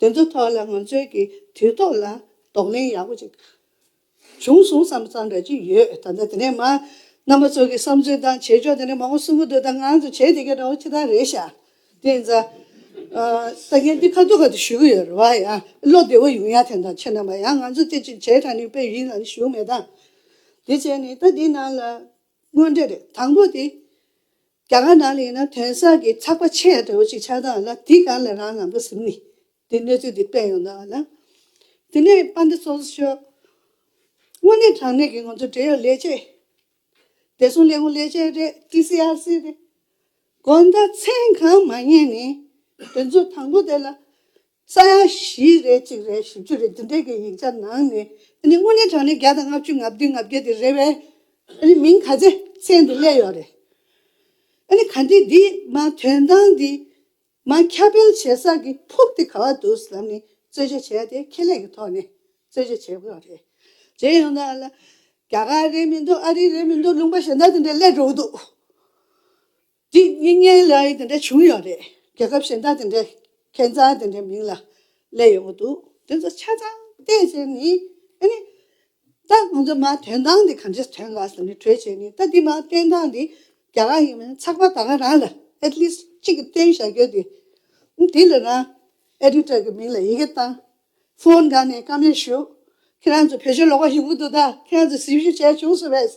དེ་ཚོ་ཐོག་ལ་ང་ཚོའི་གི་དུས་ཐོག་ལ་དོགས་གླེང་ཡག་པོ་ཅིག་བྱུང་སོང་བསམ་བསམ་འདྲ་ཅིག་ཡོད་ད་ལྟ་དེ་ནས་མ་རྣམ་པ་ཚོ་གི་བསམ་ཚུལ་དང་བྱེད་ཕྱོགས་དེ་འདྲས་མང་པོ་གསུང་གི་འདུག་ད་ང་ཚོ་བྱེད་དེ་གའི་འདྲ་བོ་ཅི་ད་རེད་ཤག་དེ་ཡིན་ཙང། ས་གན་དེ་ཁ་ཐུག་ཁ་ཐུག་ཞུས་ཀྱི་ཡོད་རེད་བ་ཡང། བློ་བདེ་བོ་ཡོང་ཡ་དེ་འདྲ་ཆེ་ན་བ་ཡང་ང་ཚོ་དེ་ཅིག་བྱས་དྲ་ནི་པའི་ཡིན་ཙང་ནི་ཞུ་མེད་ད། དེ་བྱས་ནི་ད་དེ་ནང་ལ། དངོས་འབྲེལ་རེད་དང་པོ་དེ། རྒྱ་གར་ནང་ལ་ཡིན་ན་དོན་སར་གྱི་ཚགས་པ་ཆེ་ཡ་དྲ་བོ་ཅིག་ཆགས་སྟངས་ལ་དེ་གང་ལ་རང་ལམ་ག་ཟིམ་ནི། དེ་གནས་ཚུལ་དེ་སྤེལ་ཡོང་ད་བ་ལ། དེ་ནས་པ་འདི་སོ་སོ་ཤོད། དངོས་གནས་དྲང་གནས་ཀྱི་ང་ཚོ་འབྲེལ་ཡོད་ལས་བྱེད། བདེ་སྲུང་ལས་ཁུངས་ལས་བྱེད་རེད། TCRC། རེད། དགོ་ཟླ་མཚན་གང་མ་ཉེས་ནི། དེ་ཚོ་དང་པོ་དེ་ལ། ས་ཡ་བཞི་རེ་གཅིག་རེ་བཞི་བཅུ་རེ་འདི་འདྲས་ཀྱི་ཡིག་ཆ་ནང་ནས། དངོས་གནས་དྲང་གནས་བརྒྱ་དང་ལྔ་བཅུ་ལྔ་བདུན་ལྔ་བརྒྱད་དེ་རེད་བས། མིང་ག་ཚད་ཚད་འདི་བསླད་ཡོད་རེད། ག་འདི་འདི་མ་དོན་དང་འདི། མ་ཁ་སྤེལ་བྱེད་ས་གི་ཕུགས་དེ་ག་བ་འདུག་ཟེར་ལམ་ནས་རྩོད་གཞི་བྱས་ཏེ་ཁེ་ལས་ཀྱི་ཐོག་ནས་རྩོད་གཞི་བྱེད་དགོས་པ་རེད། གཞན་ཡང་ན་ལ་རྒྱ་གར་རེད་མི་འདུག་ཨ་རི་རེད་མི་འདུག་ལུང་པ་གཞན་དག་དེ་འདྲ་སླེབས་འགྲོ་གི་འདུག་འདི་སྙིགས་ཉེན་ལ་ཡིས་དེ་འདྲ་བྱུང་ཡོད་རེད་རྒྱལ་ཁབ་གཞན་དག་དེ་འདྲས་ཁེ་མཛངས་དེ་འདྲའི་མིང་ལ་སླེབས་ཡོང་གི་འདུག་དེ་ཚོ་ཆ་ཚང་བལྟས་ཟེར་ནས་ཨ་ནི་ད་ང་ཚོས་མ་དོན་དག་འདི་གང་ཆེ་དོན་གང་ཟེར་ནས་གྲོས་བྱས་ནས་ད་འདི་མ་དོན་དག་འདི་རྒྱ་གར་ཡིན་མིན་ཚགས་པར་ད་ག་རང་ལ at least གཅིག་གིས་སྟོན་བཞག་རྒྱུ་འདི། དེ་ལ་རང editor གི་མིང་ལ་ཡི་གེ་བཏང། Phone དགའ་ནས་བཀའ་མོལ་ཞུ། ཁྱེད་རང་ཚོ་བོད་ཆོས་ལོག་པ་ཞིག་འུ་ཐུག་ད་ཁྱེད་རང་ཚོས་གཟིགས་ཞུ་བྱས་བྱུང་སུ་བས།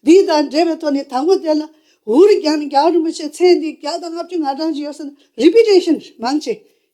འདི་དང་འབྲེལ་བའི་ཐོག་ནས་དང་པོ་དེ་ལ་འུར་རྒྱག་ནས་རྒྱ་གར་རིན་པོ་ཆེ་མཚན་འདི་བརྒྱ་དང་ལྔ་བཅུ་ང་གྲངས་ཅིག་ཡོད་ས་ན reputation མང་ཆེ་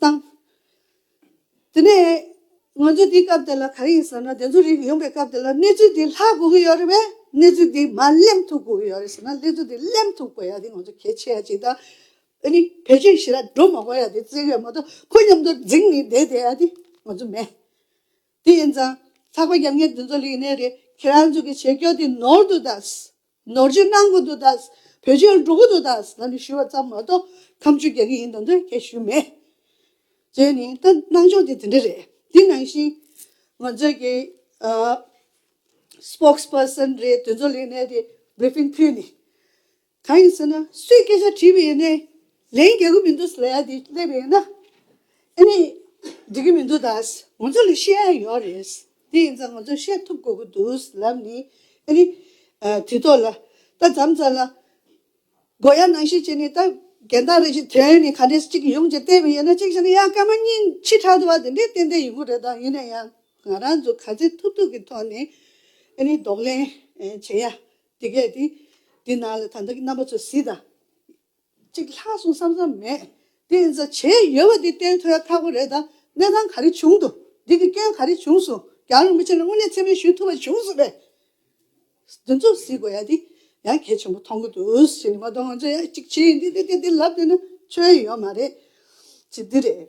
བཏང། དེ་ནས་ང་ཚོ་དེའི་སྐབས་དེ་ལ་ག་རེ་ཡིན་ཟེར་ན་བདེན་རྫུན་རིག་ཡོང་པའི་སྐབས་དེ་ལ་གནས་ཚུལ་དེ་ལྷག་དགོས་ཀྱི་ཡོད་རེད་བས་གནས་ཚུལ་དེ་མ་གླེང་ཐུབ་དགོས་ཀྱི་ཡོད་རེད་ཟེར་ན་གནས་ཚུལ་དེ་གླེང་ཐུབ་དགོས་ཡ་དེ་ང་ཚོ་གལ་ཆེ་ཡ་གཅིག་དང། ཨ་ནི་བེད་སྤྱོད་བྱེད་ར་འགྲོ་མ་དགོས་ཡ་དེ་བཙལ་ཡོད་མ་གཏོགས་ཁོ་མཉམ་དུ་འཛིང་ནས་བསྡད་བསྡད་ཡ་དེ་ང་ཚོ་མེད། དེ་ཡིན་ཙང་ཚགས་པ་རྒྱབ་ངེས་འདི་ཚོ་ལེགས་གནས་རེད་ཁྱེད་རང་ཚོ་གི་བྱེད་སྐྱོ་དེ་ནོར་དུ་གདའ། ནོར་བཅོས་གནང་དགོས་འདུག་ད། བོད་ཆོལ་འགྲོ་གི་འདུག་ད་ང་ནི་ཞུས་པ་ཙམ་མ་གཏོགས་ཁམས་ཆོས་རྒྱག་གི་ཡིན་དང་འདོད་ཁྱད་ཞུས་མེད། བརྗོད་ནི་ད་གནང་ཕྱོགས་དེ་དེ་འདྲ་རེད། དེ་ནང་བཞིན། ང་ཚོའི་གི། Spokes Person། རེད་དོན་གཙོ་ལས་གནས་དེ Briefing ཕུལ་ནི། གང་ཡིན་ཟེར་ན་སུས་སྐད་ཆ་དྲིས་པ་ཡིན་ནའི། ལན་རྒྱག་གི་མི་འདུག་ཟེར་ཡ་དེ་སླེབས་ཡིན་ན། ཨེ་ནི། འགྲིག་གི་མི་འདུག་ད་ང་ཚོ་ལ་ཤེས་ཡ་ཡོད་རེད། དེ་ཡིན་ཙང་ང་ཚོས་བཤད་ཐུབ་དགོས་ཀྱི་འདུག་ལབ་ནི། ཨ་རི། དེ་ཐོག་ལ། ད་བརྩམས་ཙང་ལ། སྒོ་ཡ་ནང་བཞིན་བྱས་ནས་ད། རྒན་བདག་རེད་ཅེས་དོན་ནི་ག་འདྲས་ཅིག་གི་ཡོང་ཅེས་བལྟས་པས་ཡོད་ན་གཅིག་བྱས་ན་ཡ་སྐར་མ་གཉིས་ཕྱི་དྲག་ཏུ་བ་དེ་འདྲས་ཏན་ཏན་ཡོང་གི་རེད་ད་ཡིན་ན་ཡང་ང་རང་ཚོས་ག་ཚད་ཐུབ་ཐུབ་ཀྱི་ཐོག་ནས། ཨ་རི་ལྡོག་ལེན་བྱེད་ཡ། དེ་གས་དེ། དེ་ནང་ལ་ད་ལྟ་གི་རྣམ་པ་ཚོ་གཟིགས་དང། གཅིག་ལྷག་སོང་བསམ་བསམ་མེད། དེ་ཡིན་ཙང་བྱས་ཡོད་པ་འདི་བསྟན་ཐོས་ཁག་པོ་རེད་ད། གནས་སྟངས་ག་རེ་བྱུང་འདུག་འདི་གི་སྐྱོན་ག་རེ་བྱུང་སོང་རྒྱ་རོགས་མི་ཆེན་ལ་དངོས་གནས་ཚེ་མེད་ཞུས་ཐུབ་པ་བྱུང་སོང་བས། འདི་ཚོ་གཟིགས་དགོས་ཡ་འདི་ཡང་གལ་ཆེན་པོ་མཐོང་གི་འདུག་ཟེར་ནས་མ་གཏོགས་ང་ཚོ་ཡ་གཅིག་བྱས་འདི་འདི་འདི་འདི་ལབ་འདོད་ན་ཆོལ་ཡོད་མ་རེད། གཅིག་འདི་རེད།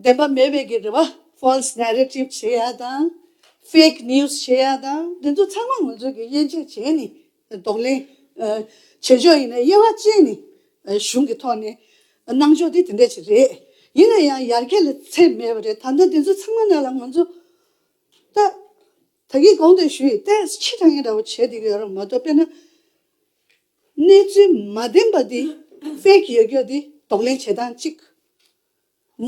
བདེན་པ་མེད་པའི་གི་རེ་བ False Narrative བྱེད་ཡ་དང Fake News བྱེད་ཡ་དང་དེ་ཚོ་ཚང་མ་ང་ཚོས་གི་དབྱེ་འབྱེད་བྱས་ནས་ལྡོག་ལན་བྱེད་ཆོག་ཡིན་ན་དབྱེ་བ་ཅན་ནི་གཞུང་གི་ཐོག་ནས་གནང་ཆོག་དེ་དེ་འད་ཅིག་རེད་ཡིན་ན་ཡང་ཡར་རྒྱས་ལ་ཚད་མེད་པ་རེད་ད་ནི་དེ་ཚོ་ཚང་མ་ནས་ལ་ང་ཚོ་ད་ད་གི་དགོངས་དོན་ཞུ་ཡི་ཏད་ཕྱི་དྲང་ངེས་འདྲ་བོ་བྱེད་དེ་གི་ཡོད་ར་མ་གཏོགས་དཔེར་ན་གནས་ཚུལ་མ་བདེན་པ་དེ Fake ཡོད་རྒྱུ་དེ་ལྡོག་ལན་བྱེད་སྟངས་གཅིག་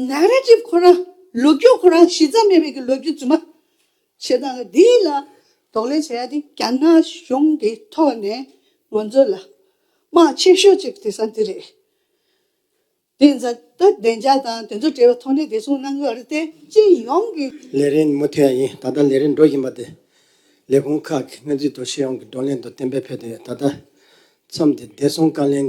ནཱ་ར་ཏི་ཁོ་རང་ལོ་རྒྱུས་ཁོ་རང་གཞི་རྩ་མེད་པའི་གི་ལོ་རྒྱུས་རྫུན་མ་བྱེད་སྟངས་འདི་ལ་དོགས་ལན་བྱ་ཡ་དེ་རྒྱ་ནག་གཞུང་གི་ཐོག་ནས་ང་ཚོ་ལ་དམག་ཆེ་ཤོས་གཅིག་དེ་ས་འདི་རེད། དེ་ཛ་ད་བདེ་འཇགས་དང་དེ་ཚོ་འབྲེལ་བའི་ཐོག་ནས་བདེ་སྲུང་གནང་གི་རེད་དེ་སྤྱི་ཡོངས་ཀྱི། ལས་རིན་མུ་མཐུད་ཡ་ཡིན་ད་ལྟ་ལས་རིན་འགྲོ་བཞིན་པ་དེ་ལས་ཁུངས་ཁག་གི་སྣེ་འཛུགས་ཐོག་སྤྱི་ཡོངས་ཀྱི་བགྲོ་གླེང་དང་གཏན་འབེབས་ཕེབས་ཏེ་ད་ལྟ་མཚམས་འདི་བདེ་སྲུང་བཀའ་ལན།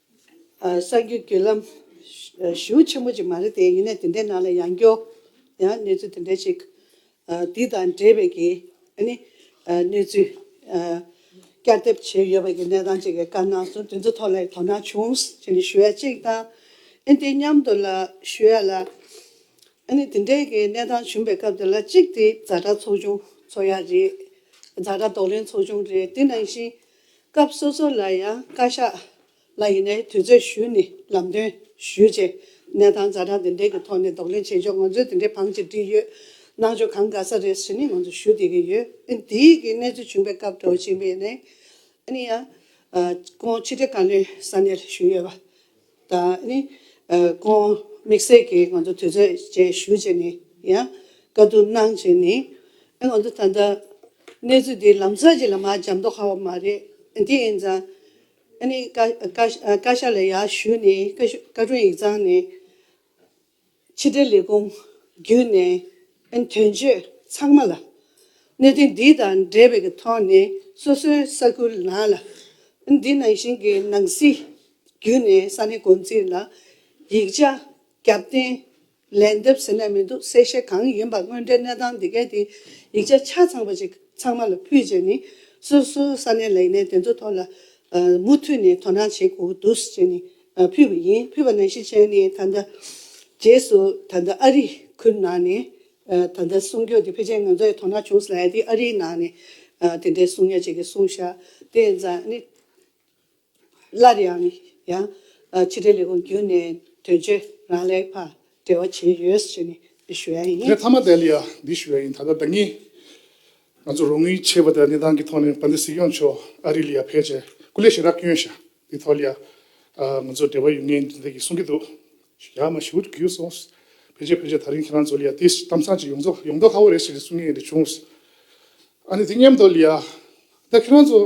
གསར་འགྱུར་བརྒྱུད་ལམ་ཞུ་ཆེན་པོ་ཅིག་མ་རེད་དེ་ཡིན་ནས་དེ་འདྲའི་ནང་ལ་ཡང་སྐྱོ། ཡང་གནས་ཚུལ་དེ་འདྲའི་ཞིག་དེ་དང་འབྲེལ་བའི་གི་ནི་གནས་ཚུལ་བསྐྱར་བསྡེབས་བྱས་ཡོད་པ་གི་གནས་སྟངས་ཅིག་གི་བཀའ་གནང་སོང་དེ་ཚོ་ཐོག་ལ་དོ་སྣང་བྱུང་ཞེས་ནི་ཞུ་ཡ་ཅིག་དང་ཨེ་འདི་མཉམ་དུ་ལ་ཞུ་ཡ་ལ་ཨེ་ནི་དེ་འདྲའི་གི་གནས་སྟངས་བྱུང་པའི་སྐབས་དེ་ལ་གཅིག་དེ་རྫ་དྲ་ཚོགས་ཆུང་ཚོ་ཡ་རེད་རྫ་དྲ་རྡོག་ལེན་ཚོགས་ཆུང་རེད་དེ་ནང་བཞིན་སྐབས་སོ་སོ་ལ་ཡང་བཀའ་ཤག་ལ་ཡིན་ནའི་དུས་ཚོད་ཞུས་ནས་ལམ་སྟོན་ཞུས་རྗེས་གནས་སྟངས་རྩ་གྲངས་དེ་འདྲས་ཀྱི་ཐོག་ནས་ལྡོག་ལེན་བྱེད་ཆོག་ང་ཚོས་དེ་འདྲའི་བང་ཅི་བྲིས་ཡོད་གནང་ཆོག་གང་དགའ་ས་རེད་ཟེར་ནས་ང་ཚོ་ཞུ་བསྡད་ཀྱི་ཡོད་ཨ་ནི་དེ་གི་གནས་ཚུལ་བྱུང་པའི་སྐབས་གྲོ་ཞིང་པའི་ནས་ཨ་ནི་ཡང་ཁོང་ཕྱི་དྲིལ་བཀའ་བློན་ས་གནས་ལ་ཞུས་ཡོད་པ། དང་ནི། ཀོང། དམིགས་བསལ་གྱིས་ང་ཚོ་དུས་ཚོད་བཅས་ཞུ་བྱས་ནས་ཡང་བཀའ་བསྡུར་གནང་བྱས་ནས། ང་ཚོ་ད་ལྟ་གནས་ཚུལ་འདི་ལམ་སང་ཅིག་ལ་མ་འཇམ་མདོག་ཧ་བ་མ་རེད། དེ་ཡིན་ཙང། ཨ་ནི། བཀའ་ཤག་ལ་ཡར་ཞུས་ནས་བཀའ་བཀའ་དྲུང་ཡིག་ཚང་ནས། ཕྱི་དྲིལ་ལས་ཁུངས་བརྒྱུད་ནས་ཨན་དོན་གཅོད་ཚང་མ་ལ། གནད་དོན་འདི་དང་འབྲེལ་བའི་གི་ཐོག་ནས་སོ་སོའི་ས་ཁུལ་ནང་ལ། ཨན་འདི་ནང་བཞིན་གི་ནང་སྲིད་བརྒྱུད་ནས་ས་གནས་འགོ་འཛིན་ལ་ཡིག་ཆ་རྒྱབ་རྟེན་ལན་འདེབས་ཟེར་ནས་མི་འདུག་གསལ་བཤད་གང་ཡིན་པ་དངོས་འབྲེལ་གནས་སྟངས་དེ་གའི་དེ་ཡིག་ཆ་ཆ་ཚང་པ་ཅིག་ཚང་མ་ལ་ཕུལ་རྗེས་ནས་སོ་སོའི་ས་གནས་ལས་གནས་དེ་ཚོ་ཐོག་ལ་མུ་མཐུད་ནས་དོ་སྣང་བྱེད་དགོས་དུས་ཅིག་ནས་ཕུལ་བ་ཡིན། ཕུལ་བ་ནང་བཞིན་བྱས་ནས་ད་ལྟ། རྗེས་སུ་ད་ལྟ་ཨ་རིའི་ཁུལ་ནང་ནས་ད་ལྟ་གསུང་རྒྱུ་དེ་ཕལ་ཆེར་ང་ཚོ་ཡང་དོ་སྣང་བྱུང་ས་ལ་ཡ་དེ་ཨ་རིའི་ནང་ནས་དེ་འདྲའི་གསུང་ཡ་གཅིག་གི་གསུང་ཤ་དེ་ཡང་ཛཱ་ནི། སླར་ཡང་ཡང་ཕྱི་དྲིལ་ལས་ཁུངས་བརྒྱུད་ནས་དོན་གཅོད་རང་ལེགས་པར་འབྲེལ་བ་བྱས་ཡོད་ཞེས་ནས་ཞུ་ཡ་ཡིན། ངས་ཐ་མ་དལ་ཡ་འདི་ཞུ་ཡ་ཡིན་ད་ལྟ་ད་ངས་ང་ཚོ་རོགས་དངུལ་ཆད་པ་དེ་ལ་གནས་སྟངས་ཀྱི་ཐོག་ནས་བ་འདི་གཟིགས་ཡོང་ཆོག་ཨ་རི་ལ་ཡ་ཕལ་ཆེར་སྐུ་ལས་ཞེ་དྲག་སྐྱོན་ཤ་བི་ཐོ་ལི་ཡ། ང་ཚོ་འབྲེལ་བ་ཡོད་མིན་འདི་འདྲ་གི་གསུང་གི་འདུག། ཡག་མ་ཞུ་གི་ཡོད་སོང། ཕལ་ཆེར་ཕལ་ཆེར་ད་རིང་ཁྱེད་རང་ཚོ་ལི་ཡ་ཏིས་གཏམ་བཟང་ཅིག་ཡོང་ཚོ་ཡོང་མདོག་ཁ་བོ་རེད་ཞེས་གསུང་ངེས་རེད་བྱུང། ཨ་ནི་དེ་སྙམ་མདོག་ལི་ཡ། ད་ཁྱེད་རང་ཚོ།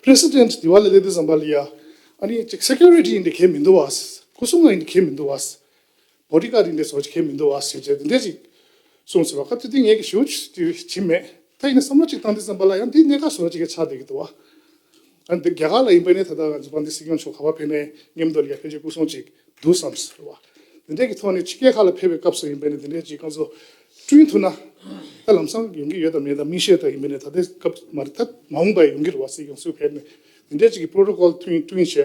President། དེ་བ་ལ་ལས་དེ་བཟང་པ་ལི་ཡ། ཨ་ནི་ཅིག Security ཡིན་དེ་གལ་མི་འདུག་བ། སྐུ་སྲུང་ཡིན་དེ་གལ་མི་འདུག་བ། བོད་རིགས་ཀ་རིགས་འདི་ཚོ་ཁྱེད་མི་འདུག་བ་ཟེར་རྗེས་འདི་འདྲས་ཅིག་གསུངས་ཟེར་བ་སྐབས་དེ་དུས་ངས་ཀྱི་ཞུ་བྱེད་མེད་ད་ཡིན་ན་བསམ་བློ་ཅིག་བཏང་དུས་བསམ་པ་ལ་ཡང་འདི་གནད་འགག་ཟུར་ཅིག་གི་ཆགས་བསྡད་ཀྱི་འདུག་བ། ཨ་འདི་རྒྱ་གར་ལ་ཡིན་པའི་ནས་ད་ལྟ་ང་ཚོ་བ་འདི་སྲིད་སྐྱོང་མཆོག་ག་བ་ཕེབས་ནས་ཉེ་མདོ་ལ་ཡ་ཕེབས་རྗེས་སྐུ་སྲུང་ཅིག་འདུག་བསམ་ཟེར་བ། འདི་འདྲས་ཀྱི་ཐོག་ནས་ཕྱི་རྒྱལ་ཁག་ལ་ཕེབས་པའི་སྐབས་སུ་ཡིན་པའི་ནས་འདི་འདྲས་ཅིག་རྐང་བཟོ་བསྐྲུན་ཐུབ་ན་ད་ལམ་སམ་ཡོང་གྱི་ཡོད་དམ་མེད་དམ་མི་ཤེས་ད་ཡིན་པའི་ནས་ད་ལྟའི་སྐབས་མ་རེད་ད་མ་འོངས་པ་ཡོང་གི་རེད་བ་སྲིད་སྐྱོང་སུས་ཕེབས་ནས་འདི་འདྲས་ཅིག་གི Protocol བསྐྲུན་བྱས།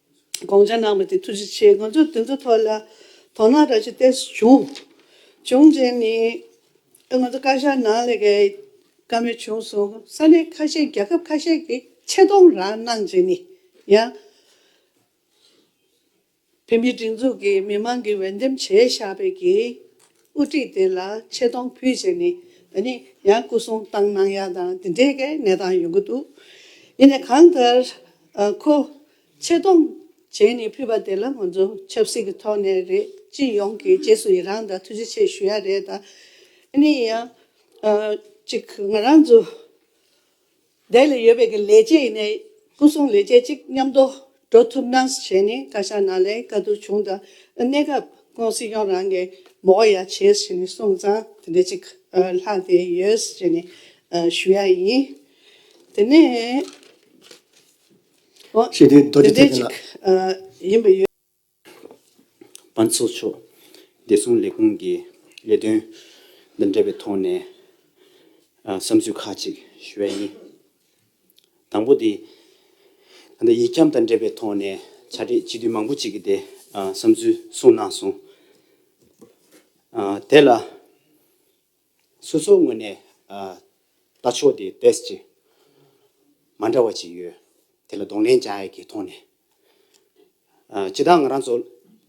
དགོངས་འཆར་གནང་བ་དེ་ཐུགས་རྗེ་ཆེ་ང་ཚོས་དེ་ཚོའི་ཐོག་ལ་དོ་སྣང་རག་ཆེད་བལྟས་སུ་བྱུང། བྱུང་རྗེས་ནས་ང་ཚོ་བཀའ་ཤག་ནང་ལས་ཀའི་དཀའ་མོལ་བྱུང་སོང་ས་གནས་ཁ་ཤས་རྒྱལ་ཁབ་ཁ་ཤས་ཀྱི་ཆེ་མཐོང་རག་གནང་རྗེས་ནས་ཡང་བོད་མིའི་སྒྲིག་འཛུགས་ཀྱི་མི་མང་གིས་འོས་འདེམས་བྱས་བཞག་པའི་གི་དབུ་ཁྲིད་དེ་ལ་ཆེ་མཐོང་ཕུལ་བྱས་ནས་ད་ནི་ཡང་སྐུ་སྲུང་བཏང་གནང་ཡ་དང་དེ་འདྲའི་གའི་གནས་སྟངས་ཡོང་གི་འདུག་ཡིན་ནས་གང་ལྟར་ཁོ་ཆེ་མཐོང་བྱས་ནས་ཕུལ་བ་དེ་ལ་ང་ཚོ་ཆབ་སྲིད་ཀྱི་ཐོག་ནས་རེད་སྤྱི་ཡོངས་ཀྱི་རྗེས་སུ་ཡི་རང་དང་ཐུགས་རྗེ་ཆེ་ཞུ་ཡ་རེད་ད་ནི་ཡང་ཅིག་ང་རང་ཚོ་བསྡད་ལ་ཡོད་པའི་གི་ལས་བྱེད་ཡིན་ནས་སྐུ་སྲུང་ལས་བྱེད་ཅིག་མཉམ་དུ་འགྲོ་ཐུབ་ན་བྱས་ནས་བཀའ་ཤག་ནང་ལས་ཀ་དུར་བྱུང་དང་གནས་སྐབས་ཀུང་སི་ཡོངས་རང་གི་མོ་ཡ་བྱས་ཟེར་ནས་གསུངས་ཙང་དེ་འདྲ་ཅིག་ལྷག་དེ་ཡོད་ཟེར་ནས་ཞུ་ཡ་ཡིན། དེ་ནས་ཞེས་དེ་རྡོ་རྗེ་ཐེག་ཆེན་ལ། ཡིན་པ་ཡོད། པ་ཚོགས་མཆོག་བདེ་སྲུང་ལས་ཁུངས་ཀྱི་ལས་དོན་དང་འབྲེལ་བའི་ཐོག་ནས་བསམ་ཚུལ་ཁག་ཅིག་ཞུ་བ་ཡིན། དང་པོ་དེ། ད་ལྟ་ཡིག་འཁྱམས་དང་འབྲེལ་བའི་ཐོག་ནས་བྱ་སྤྲེལ་སྤྱི་འཐུས་མང་པོ་ཅིག་གིས་དེ་བསམ་ཚུལ་གསུངས་གནང་སོང། དེ་ལ། སོ་སོའི་ངོས་ནས་ལྟ་ཕྱོགས་དེ་དེབས་ཀྱི་མ་འདྲ་བ་ཅིག་ཡོད་དེ་ལ་གདོང་ལེན་བྱ་ཡག་གི་ཐོག་ནས་ཇི་ལྟར་ང་རང་ཚོ་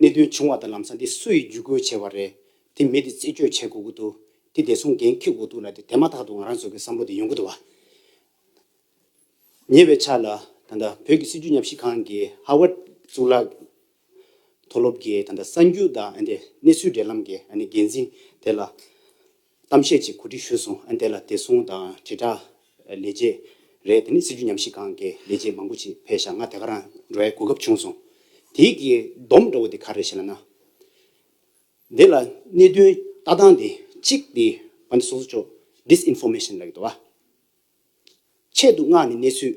གནད་དོན་བྱུང་བ་དང་ལམ་སང་དེ་སུ་ཡིས་བརྒྱུད་སྐུལ་བྱས་བ་རེད་དེ་མི་དེ་རྩད་གཅོད་བྱེད་དགོས་ཀྱི་འདུག་དེ་བདེ་སྲུང་འགན་འཁུར་དགོས་འདུག་ལ་དེ་དེ་མ་ཐག་ཏུ་ང་རང་ཚོ་གི་བསམ་བློ་དེ་ཡོང་གི་འདུག་བ། ཉེ་བའི་ཆ་ལ་ད་ལྟ་བོད་ཀྱི་སྲིད་བྱུས་ཉམས་ཞིབ་ཁང་གི་ཧ་ཝར་གཙུག་ལག་མཐོ་སློབ་ཀྱི་ད་ལྟ་གསར་འགྱུར་དང་གནས་ཚུལ་འབྲེལ་ལམ་གྱི་འགན་འཛིན་དེ་ལ་གཏམ་བཤད་ཅིག་གོ་སྒྲིག་ཞུས་སོང་དེ་ལ་བདེ་སྲུང་དང་དྲིལ་བསྒྲགས་ལས་བྱེད་རེད་དེ་ནི་སྲིད་བྱུས་ཉམས་ཞིབ་ཁང་གི་ལས་བྱེད་མང་པོ་ཞིག་ཕེབས་ཤག་ང་དེ་ག་རང་འགྲོ་བའི་གོ་སྐབས་བྱུང་སོང་དེའི་གི་སྡོམ་འདྲ་བོ་དེ་ག་རེད་ཞེ་ན་ན། དེ་ལ་གནད་དོན་ལྟ་སྟངས་དེ་གཅིག་དེ་བ་འདི་སོ་སོ་ཅོག Disinformation ལགས་འདུག་བ། ཆེད་དུ་མངགས་ནས་གནས་ཚུལ་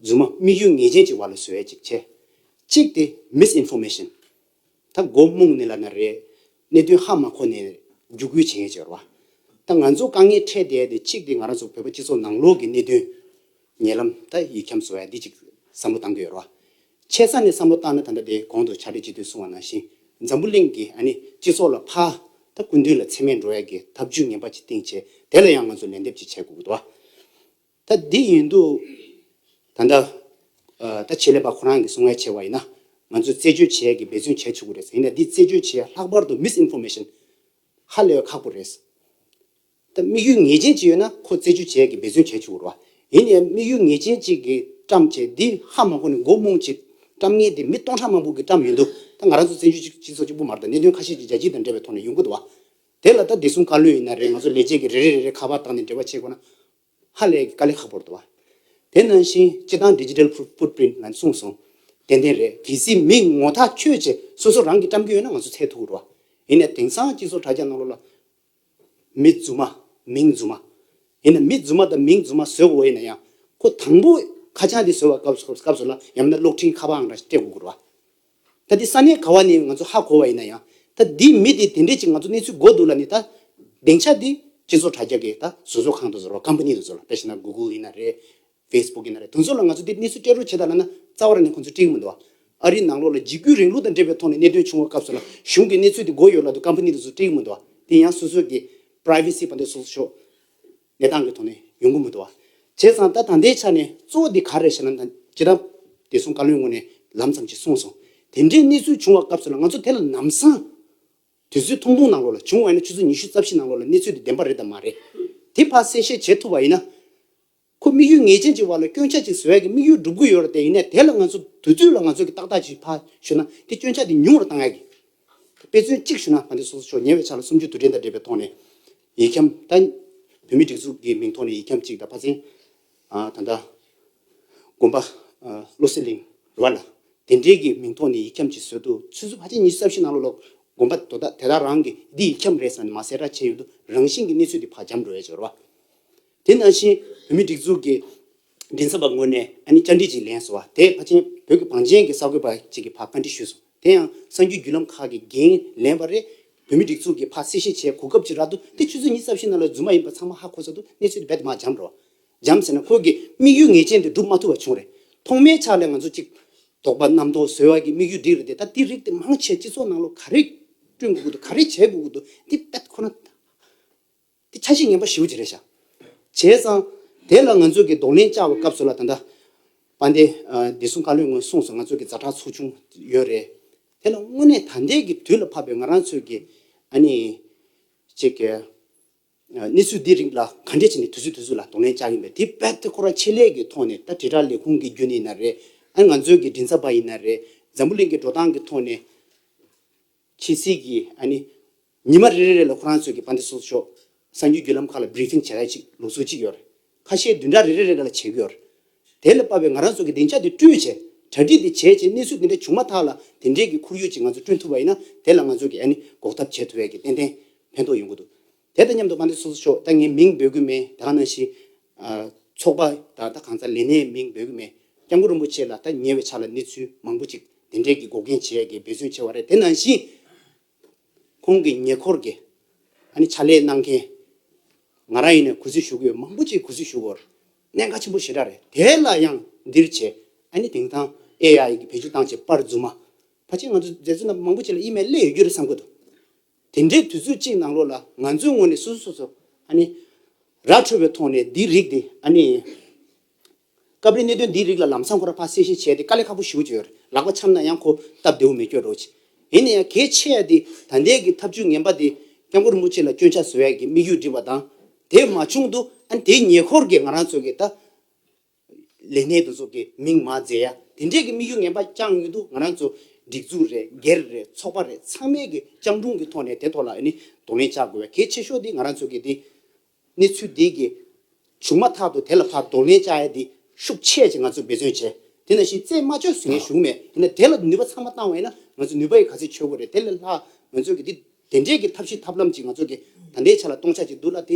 རྫུན་མ་དམིགས་ཡུལ་ངེས་ཅན་གྱི་བར་ལ་བཟོ་བས་ཅིག་བྱས། གཅིག་སྟེ Misinformation། ད་མགོ་རྨོངས་ནས་ལབ་ན་རེད། གནད་དོན་ཧ་མ་གོ་ནས་རྒྱུགས་སྐུལ་བྱེད་ངེས་ཅེས་བར་བ། ད་ང་ཚོ་དཀའ་ངལ་འཕྲད་བསྡད་དེ་གཅིག་སྟེ་ང་རང་ཚོ་བོད་པ་སྤྱི་ཚོགས་ནང་ལོགས་ཀྱི་གནད་དོན། ཉེ་ལམ་ད་ཡིག་འཁྱམས་བཟོ་བས་འདི་གཅིག་བསམ་བློ་བཏང་གི་ཡོད་བར་བ། ཆེ་ས་ནས་བསམ་བློ་བཏང་ན་ད་ལྟ་དེ་གོང་དུ་བྱ་སྤྲེལ་སྤྱི་འཐུས་གསུང་བ་ནང་བཞིན་འཛམ་བུ་གླིང་གི་ཨ་ནི་སྤྱི་ཚོགས་ལ་ཕ། ད་སྐུ་མདུན་ལ་འཚེ་མེད་འགྲོ་ཡག་གི་ཐབས་ཇུས་ངན་པ་ཅིག་བཏིང་བྱས་དེ་ལ་ཡང་ང་ཚོ་ལན་འདེབས་ཅིག་བྱེད་དགོས་གི་འདུག་ད་འདི་ཡིན་འདུག་ད། ད་བྱེད་ལས་པ་ཁོ་རང་གི་གསུང་བས་བྱས་བ་ཡིན་ན་ང་ཚོས་རྩད་གཅོད་བྱེད་ཡག་གི་འབད་བརྩོན་བྱས་ཆོག་གི་རེད་ཡིན་ན་འདི་རྩད་གཅོད་བྱེད་ཡག་ལྷག་པར་དུ Misinformation ཧ་ལས་ཁག་པོ་རེད། ད་དམིགས་ཡུལ་ངེས་ཅན་གཅིག་ཡོད་ན་ཁོ་རྩེ་གཅོད་བྱས་ཀྱི་འབད་བརྩོན་བྱས་ཆོག་རོགས། ཡིན་ཡང་དམིགས་ཡུལ་ངེས་ཅན་གཅིག་གི་བཀྲམ་བྱས་འདི་ཧ་མང་པོ་ནས་མགོ་རྨོངས་ཅིག། བཀྲམ་ངེས་འདི་མི་སྟོང་ཕྲག་མང་པོ་གི་བཀྲམ་ཡོད་འདུག་ད་ང་རང་ཚོ་བཙན་བྱོལ་སྤྱི་ཚོགས་གཅིག་པུ་མར་དང་གནད་དོན་ཁ་ཤས་ཀྱི་རྒྱལ་སྤྱི་དང་འབྲེལ་བའི་ཐོག་ནས་ཡོང་གི་འདུག་བ། དེ་ལ་ད་བདེ་སྲུང་བཀའ་བློན་ཡིན་ན་རེད་ང་ཚོ་ལས་བྱེད་ཀྱི་རེ་རེ་རེ་རེ་ཁ་པར་བཏང་ནས་འབྲེལ་བ་བྱེད་དགོས་ན་ཧ་ལས་ཀྱི་དཀའ་ལས་ཁག་པོ་རེད་བ། དེ་ནང་བཞིན་སྤྱི་བཏང Digital Footprint ལ་གསུངས་སོང། ཏན་ཏན་རེད་གལ་སྲིད་མི་ངོ་ཐག་ཆོད་ཅིག་སོ་སོ་རང་གིས་བཀྲམ་གྱི་ཡོད་ན་ང་ཚོ་འཚལ་ཐུག་རོགས། ཡིན་ནས་དེང་སང་སྤྱི་ཚོགས་དྲ་རྒྱ་གནང་ལོ་ལ། མི་རྫུན་མ། མིང་རྫུན་མ། ཡིན་ན་མི་རྫུན་མ་དང་མིང་རྫུན་མ་བཟོས་དགོས་ཡིན་ན་ཡང། ཁོ་དང་པོ་ཁ་བྱང་འདི་བཟོ་བར་སྐབས་སུ་ལ་ཡང་མིན་ན་གློག་འཕྲིན་ཁ་པའང་ར་སྤྲད་དགོས་དགོས་རུང། ད་འདི་ས་གནས་ག་བ་ནས་ང་ཚོ་ཧ་གོ་བ་ཡིན་ན་ཡང། ད་འདིའི་མི་དེ་དེ་འདྲས་ཅིག་ང་ཚོ་གནས་ཚུལ་གོ་འདུག་ལ་ནི་ད། སྡིངས་ཆ་འདི་སྤྱི་ཚོགས་དྲ་རྒྱ་གི་ད་བཟོ་བཟོ་ཁང་དུ་བཟོ་རོགས་ཀམ་པ་ནི་དུ་བཟོ་རོགས་པས་ཤི་ན་གུ་གུ་ཡིན་ན་རེད། Facebook ཡིན་ན་རེད་དོན་ཚོད་ལ་ང་ཚོ་འདིར་གནས་ཚུལ་སྤྲད་རོགས་བྱེད་ད་ལ་ན་རྩ་བ་ར་ནས་ཁོང་ཚོ་བཀྲིས་མི་འདུག་ཨ་རིའི་ནང་ལོགས་ལ་འཇིགས་སྐུལ་རིང་ལུགས་དང་འབྲེལ་བའི་ཐོག་ནས་གནད་དོན་བྱུང་བ་སྐབས་སུ་ལ་གཞུང་གིས་གནས་ཚུལ་དེ་འགོ་ཡོད་ལ་དུ Company དེ་ཚོ་བཀྲིས་མི་འདུག་དེ་ཡང་སོ་སོའི་གི Privacy བ་འདི་སོགས་ཤོག་གནས་སྟངས་གི་ཐོག་ནས་ཡོང་གི་མི་འདུག་བྱས་ཙང་ད་ད་ལྟའི་ཆ་ནས་གཙོ་བོ་དེ་ག་རེད་བྱས་ན་ན་ཇི་ལྟར་བདེ་སྲུང་བཀའ་བློན་ངོས་ནས་ལམ་ཙམ་ཞིག་གསུངས་སོང་དེ་འདྲའི་གནས་ཚུལ་བྱུང་བ་སྐབས་སུ་ལ་ང་ཚོ་དེ་ལ་ནམ་སང་དུས་ཚོད་ཐུང་ཐུང་ནང་ལོགས་ལ་བྱུང་བ་ཡིན་ན་ཆུ་ཚོད་ཉི་ཤུ་རྩ་བཞི་ནང་ལོགས་ལ་གནས་ཚུལ་དེ་བདེན་པ་རེད་དམ་མ་རེད་དེ་ཕ་གསལ་བཤད་བྱེད་ཐུབ་བ་ཡིན་ན། ཁོ་དམིགས་ཡུལ་ངེས་ཅན་གྱི་བར་ལ་སྐྱོན་ཆ་གཅིག་ཟེར་བ་གི་དམིགས་ཡུལ་སྒྲུབ་དགོས་ཡོད་རེད་དེ་ཡིན་ནའི་དེ་ལ་ང་ཚོ་དུས་དུས་ལ་ང་ཚོ་གི་ཏག་ཏག་ཅིག་ཕ་ཞུ་ན་དེ་སྐྱོན་ཆ་དེ་ཉུང་རུ་གཏང་ཡག་གི། དེ་དཔེ་མཚོན་གཅིག་ཞུ་ན་ང་ཚོ་སོ་སོ་ཕྱོགས་ཉེ་བའི་ཆ་ལ་སུམ་ཅུ་དུས་དྲན་དང་འབྲེལ་བའི་ཐོག་ནས། ཡིག་འཁྱམ་ད། བོད་མི་སྒྲིག་འཛུགས་ཀྱི་མིང་ཐོག་ནས་ཡིག་འཁྱམ་གཅིག་ད་ཕ་ཚན། ད་ལྟ། དགོན་པ། བློ་གསལ་གླིང། རེད་བ་ལ། དེ་འབྲེལ་གྱི་མིང་ཐོག་ནས་ཡིག་འཁྱམ་གཅིག་བཟོས་འདུག་ཚུལ་བཟོ་ཕ་ཚན་གཉིས་གསབ་བཞེས་གནང་ལོ་ལོག་དགོན་པ་དོ་བདག་དེ་དག་རང་གིས་འདི་ཡིག་འཁྱམ་རེད་བསམ་ནས་མ་གསལ་བསྒྲགས་བྱས་ཡོད་འདུག་རང་བཞིན་གྱི་གནས་ཚུལ་དེ་ཕ་འཁྱམ་འགྲོ་ཡ་ཆེ་རེད་བ། དེ་ནང་བཞིན་བོད་མིའི་སྒྲིག་འཛུགས་ཀྱི་མགྲིན་ཚབ་པ་ངོས་ནས་ཨ་ནི་བཅར་འདྲི་ཅིག་ལེན་སོང་བ་དེས་ཕ་ཆེན་བོད་ཀྱི་བང་ཆེན་གྱི་གསར་འགོད་པ་ཅིག་གི་བར་བཀའ་འདྲི་ཞུས་སོང་དེ་ཡང་གསར་འགྱུར་བརྒྱུད་ལམ་ཁག་གི་འགན་ལེན་པ་རེད་བོད་མིའི་སྒྲིག་འཛུགས་ཀྱི་ཕ་སེ་ཤེ་ཆེ་གོ་སྐབས་ཅིག་རག་འདུག་དེ་ཆུ་ཚོད་གཉིས་རྩ་བཞི་ནང་ལ་རྫུན་མ་ཡིན་པ་ཚང་མ་ཧ་གོ་ས་འདུག་གནས་ཚུལ་དེ་རྦད་དེ་མ་འབྱམས་རོགས། འབྱམས་ཟེར་ན་ཁོས་ཀྱི་དམིགས་ཡུལ་ངེས་ཅན་དེ་འགྲུབ་མ་ཐུབ་པ་བྱུང་རེད། ཐོག་མའི་ཆ་ལས་ང་ཚོ་གཅིག། དོགས་པ་རྣམ་རྟོག་བཟོས་བ་གྱི་དམིགས་ཡུལ་འགྲིག་རེད་དེ་ད་དེ་རིགས་དེ་མང་ཆེ་སྤྱི་ཚོགས་ནང་ལོ་ག་རེ་བསྐྲུན་དགོས་ཀྱི་འདུག་ག་རེ་བྱེད་དགོས་ཀྱི་འདུག་འདི་རྦད་དེ་ཁོ་ན། དེ་ཆ་ཤས་ངན་པ་ཞིའུ་ཅི་རེད་ཤག་བྱས་ཙང། དེ་ལ་ང་ཚོས་ཀྱི་གདོང་ལེན་བཅག་པའི་སྐབས་སུ་ལ་ད་ལྟ། པ་འདི། བདེ་སྲུང་བཀའ་བློན་ངོས་གསུངས་སོ་ང་ཚོས་ཀྱི་རྫ་ཁྲག་ཚོགས་ཆུང་ཡོད་རེད། དེ་ལ་དངོས་གནས་ད་ལྟའི་ཀྱི་དུས་ལ་བབ་པའི་ང་རང་ཚོས་ཀྱི། ཨ་ནི། ཅིག་གི། གནས་ཚུལ་འདི་རིགས་ལ་ག་འདྲས་བྱས་ནས་དུས་ཚོད་དུས་ཚོད་ལ་གདོང་ལེན་བཅག་གིན་པའི་དེ་བས་ཏེ་ཁོ་ར་ཆེད་ལས་ཀྱི་ཐོག་ནས་ད་དྲིལ་བསྒྲགས་ལས་ཁུངས་ཀྱི་རྒྱུན་ནས་ཡིན་ན་རེད། ཨ་ནི་ང་ཚོས་ཀྱི་མགྲིན་ཚབ་པ་ཡིན་ན་རེད། འཛམ་བུ་གླིང་གི་འགྲོ་སྟངས་ཀྱི་ཐོག་ནས། ཁྱེད་ཚིག་གིས་ཨ་ནི། ཉི་མ་རེ་རེ་རེ་ལ་ཁོ་རང་ཚོས་ཀྱི་པ་འདི་སོགས་ཤོག་གསར་འགྱུར་བརྒྱུད་ལམ་ཁག་ལ Briefing བྱེད་ར་ཅིག་ལུགས་སྲོལ་ཅིག་ཡོད་རེད། ཁ་ཤས་བདུན་ཕྲག་རེ་རེ་རེ་རེ་ལ་བྱེད་གི་ཡོད་རེད། དེ་ལས་དཔག་པའི་ང་རང་ཚོ་གི་བདེ་འཇགས་དེ་སྐྲུན་བྱས། གྲ་སྒྲིག་དེ་བྱས་བྱས་གནས་ཚུལ་དེ་འདྲ་བྱུང་མ་ཐག་ལ་དེ་འདྲའི་གི་ཁོར་ཡུག་ཅིག་ང་ཚོ་སྐྲུན་ཐུབ་པ་ཡིན་ན་དེ་ལ་ང་ཚོས་ཀྱི་ཨ་ནི་འགོག་ཐབས་བྱེད་ཐུབ་བས་ཀྱི་ཏན་ཏན་ཕན་ཐོགས་ཡོང་གི་འདུག་དེ་དང་མཉམ་དུ་མ་འདྲེ་སོ་སོ་ཤོག་ད་ངས་མིང་འབོད་གི་མེད་ད་ནང་བཞིན། ཚོགས་པ་དང་ད་གང་ཚ་ལས་ནས་མིང་འབོད་གི་མེད་སྐྱབས་མགོན་རིན་པོ་ཆེ་ལ་ད་ཉེ་བའི་ཆ་ལ་གནས་ཚུལ་མང་པོ་ཅིག་དེ་འདྲས་ཀྱི་འགོག་རྐྱེན་བྱེད་ཡ་གི་འབད་བརྩོན་ཆེ་བ་རེད་དེ་ནང་བཞིན། ཁོང་གི་ཉེ་འཁོར་གྱི་ཨ་ནི་ཕྱག་ལས་གནང་མཁན། ང་རང་ཡིན་ནས་གུས་བརྩི་ཞུ་གི་ཡོད་མང་པོ་ཅིག་གུས་བརྩི་ཞུ་དགོས་གནད་འགག་ཆེན་པོ་ཞེ་དྲག་རེད་དེ་ལ་ཡང་འདིར་བྱས་ཨ་ནི་དེང་སང AI གི་བེད་སྤྱོད་བཏང་བྱས་པར་རྫུན་མ་ཕར་ཕྱིན་ང་ཚོ་མཛད་བཟོ་རྣམ་པ་མང་པོ་ཅིག་ལ་ཨི་མེ་ལེ་ཡོད་རྒྱུ་རེད་བསམ་དགོས་འདུག་དེ་འདྲའི་དུས་ཚོད་ཅིག་ནང་ལོགས་ལ་ང་ཚོའི་ངོས་ནས་སོ་སོ་སོ་སོ་ཨ་ནི། ར་འཕྲོད་པའི་ཐོག་ནས་འདི་རིགས་དེ་ཨ་ནི། སྐབས་རེ་གནད་དོན་འདི་རིགས་ལ་ལམ་སང་ཁོ་ར་ཕ་གསལ་བཤད་བྱས་ཏེ་དཀའ་ལས་ཁག་པོ་ཞུ་གི་བྱོས་རེད་ལགས་པ་འཆམ་ན་ཡང་ཁོ་སྟབས་བདེ་བོ་མི་བསྐྱོད་རོགས་གྱིས། ཡིན་ན་ཡང་གལ་ཆེ་ཡ་དེ་ད་ལྟའི་གི་ཐབས་ཇུས་ངན་པ་དེ་སྐྱབས་མགོན་རིན་པོ་ཆེ་ལ་སྐྱོན་ཆ་བཟོ་ཡ་གི་དམིགས་ཡུལ་བསྒྲིགས་པ་དང་དེ་མ་བྱུང་དུ་ཨ་ནི་དེའི་ཉེ་འཁོར་གི་ང་རང་ཚོ་གི་ད་ལས་སྣེ་དུ་ཚོགས་ཀྱི་མིང་མ་བརྫད་ཡ། དེ་འདྲས་ཀྱི་དམིགས་ཡུལ་ངན་པ་རྐྱང་ཡོད་འདུག་ང་རང་ཚོ་སྒྲིག་འཛུགས་རེད་སྒེར་རེད་ཚོགས་པ་རེད་ཚང་མས་ཀྱི་སྤྱང་གྲུང་གི་ཐོག་ནས་དེ་ཐོག་ལ་ནི་གདོང་ལེན་བྱ་དགོས་བས་གལ་ཆེ་ཤོས་དེ་ང་རང་ཚོ་གི་དེ། གནས་ཚུལ་དེ་གི་བྱུང་མ་ཐག་ཏུ་དེ་ལ་ཕར་གདོང་ལེན་བྱ་ཡ་དེ་ཤུགས་ཆེ་ཆེ་ང་ཚོས་འབད་བརྩོན་བྱས་དེ་ནང་བཞིན་རྩེད་མ་ཆོད་ཟེར་མཁན་བཞུགས་མེད་ཡིན་ན་དེ་ལ་ནུས་པ་ཚང་མ་བཏང་བ་ཡིན་ན་ང་ཚོ་ནུས་པ་ཡི་ག་ཚད་ཆོད་དགོས་རེད་དེ་ལས་ལྷག་ང་ཚོས་ཀྱི་དེ་དེ་འདྲས་ཀྱི་ཐབས་ཤེས་ཐབས་ལམ་ཅིག་ང་ཚོ་གི་ད་ལྟའི་ཆ་ལ་གཏོང་བྱ་ཅིག་འདུག་ལ་དེ་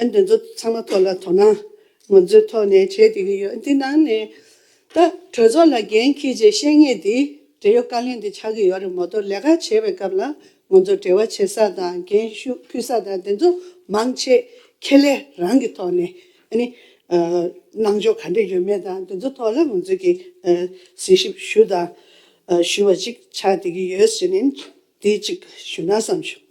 ཨ་འདི་ཚོ་ཚང་མ་ཐོག་ལ་དོ་སྣང་ངོ་མཚོའི་ཐོག་ནས་བྱེད་བསྡད་ཀྱི་ཡོད་འདི་ནང་ནས་ད་གྲོས་ཚོགས་ལ་འགན་འཁྱེར་རྗེས་བཤད་ངེས་འདི་འབྲེལ་ཡོད་བཀའ་ལན་འདི་ཆགས་ཀྱི་ཡོད་རེད་མོ་གཏོར་ལས་ཀ་བྱེད་པའི་སྐབས་ལ་ངོ་མཚོ་འབྲེལ་བ་བྱེད་ས་དང་འགན་ཞུགས་ཕུལ་ས་དང་དེ་ཚོ་མང་ཆེ་ཁེ་ལས་རང་གི་ཐོག་ནས་གནང་ཕྱོགས་ག་འདྲ་ཡོད་མེད་དང་དེ་ཚོ་ཐོག་ལ་ངོ་མཚོས་ཀྱི་གཟིགས་ཞིབ་ཞུ་དང་ཞུ་བ་ཅིག་ཆགས་བསྡད་ཀྱི་ཡོད་ཟེར་ནས་འདི་ཅིག་ཞུ་ན་བསམ་བྱུང།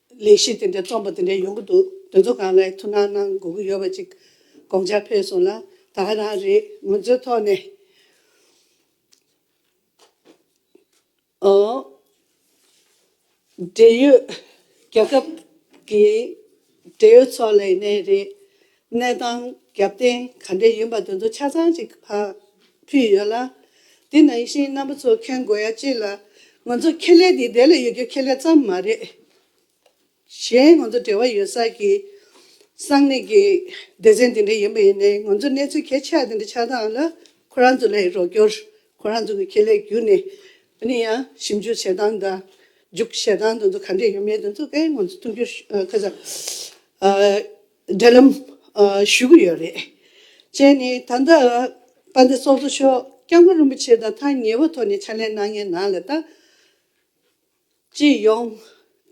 ལས་གཞི་དེ་འདྲའི་རྩོམ་པ་དེ་འདྲའི་ཡོང་གི་འདུག་དེ་ཚོ་གང་ལའི་ཐུགས་སྣང་གནང་དགོས་ཀྱི་ཡོད་པ་ཅིག་དགོངས་འཆར་ཕེབས་སོང་ལ་ད་ཧ་རང་རེས་ངོས་འཛིན་ཐོག་ནས་འབྲེལ་ཡོད་རྒྱལ་ཁབ་ཀྱི་འབྲེལ་ཡོད་ཚོགས་ལས་གནས་རེད་གནས་སྟངས་རྒྱབ་རྟེན་ག་འདྲས་ཡིན་པ་དེ་ཚོ་ཆ་ཚང་ཅིག་ཕུལ་ཡོད་ལ། དེ་ནང་བཞིན་རྣམ་པ་ཚོ་མཁྱེན་དགོས་ཡ་གཅིག་ལ། ང་ཚོ་ཁེ་ལས་འདི་བདེ་ལ་ཡོད་རྒྱུ་ཁེ་ལས་ཙམ་མ་རེད། གཞན་ང་ཚོ་འབྲེལ་བ་ཡོད་ས་ཀྱི་གསང་གནས་ཀྱི་སྡེ་ཚན་དེ་འདྲ་ཡིན་པ་ཡིན་ནའི་ང་ཚོ་གནས་ཚུལ་གལ་ཆེ་བ་དེ་འདྲ་ཆགས་སྟངས་ལ་ཁོ་རང་ཚོ་ལས་རོགས་སྐྱོར་ཁོ་རང་ཚོ་གི་ཁེ་ལས་བརྒྱུད་ནས་ཡིན་ཡང་ཞིབ་འཇུག་བྱེད་སྟངས་དང་འཇུག་བྱེད་སྟངས་དེ་ཚོ་ག་འདྲས་ཡོད་མེད་དེ་ཚོ་ཀའི་ངོ་ཚོ་ཐུགས་རྒྱུས་ཁ་ཚ་འབྲེལ་ལམ་ཞུ་གི་ཡོད་རེད། བཅས་ནི་ད་ལྟ་པ་འདི་སོགས་གཙོ་ཤོག་སྐྱབས་མགོན་རིན་པོ་ཆེ་དང་ཐག་ཉེ་བོ་ཐོག་ནས་ཕྱག་ལས་གནང་མཁན་ནང་ལ་ད་ཅིས་ཡོང།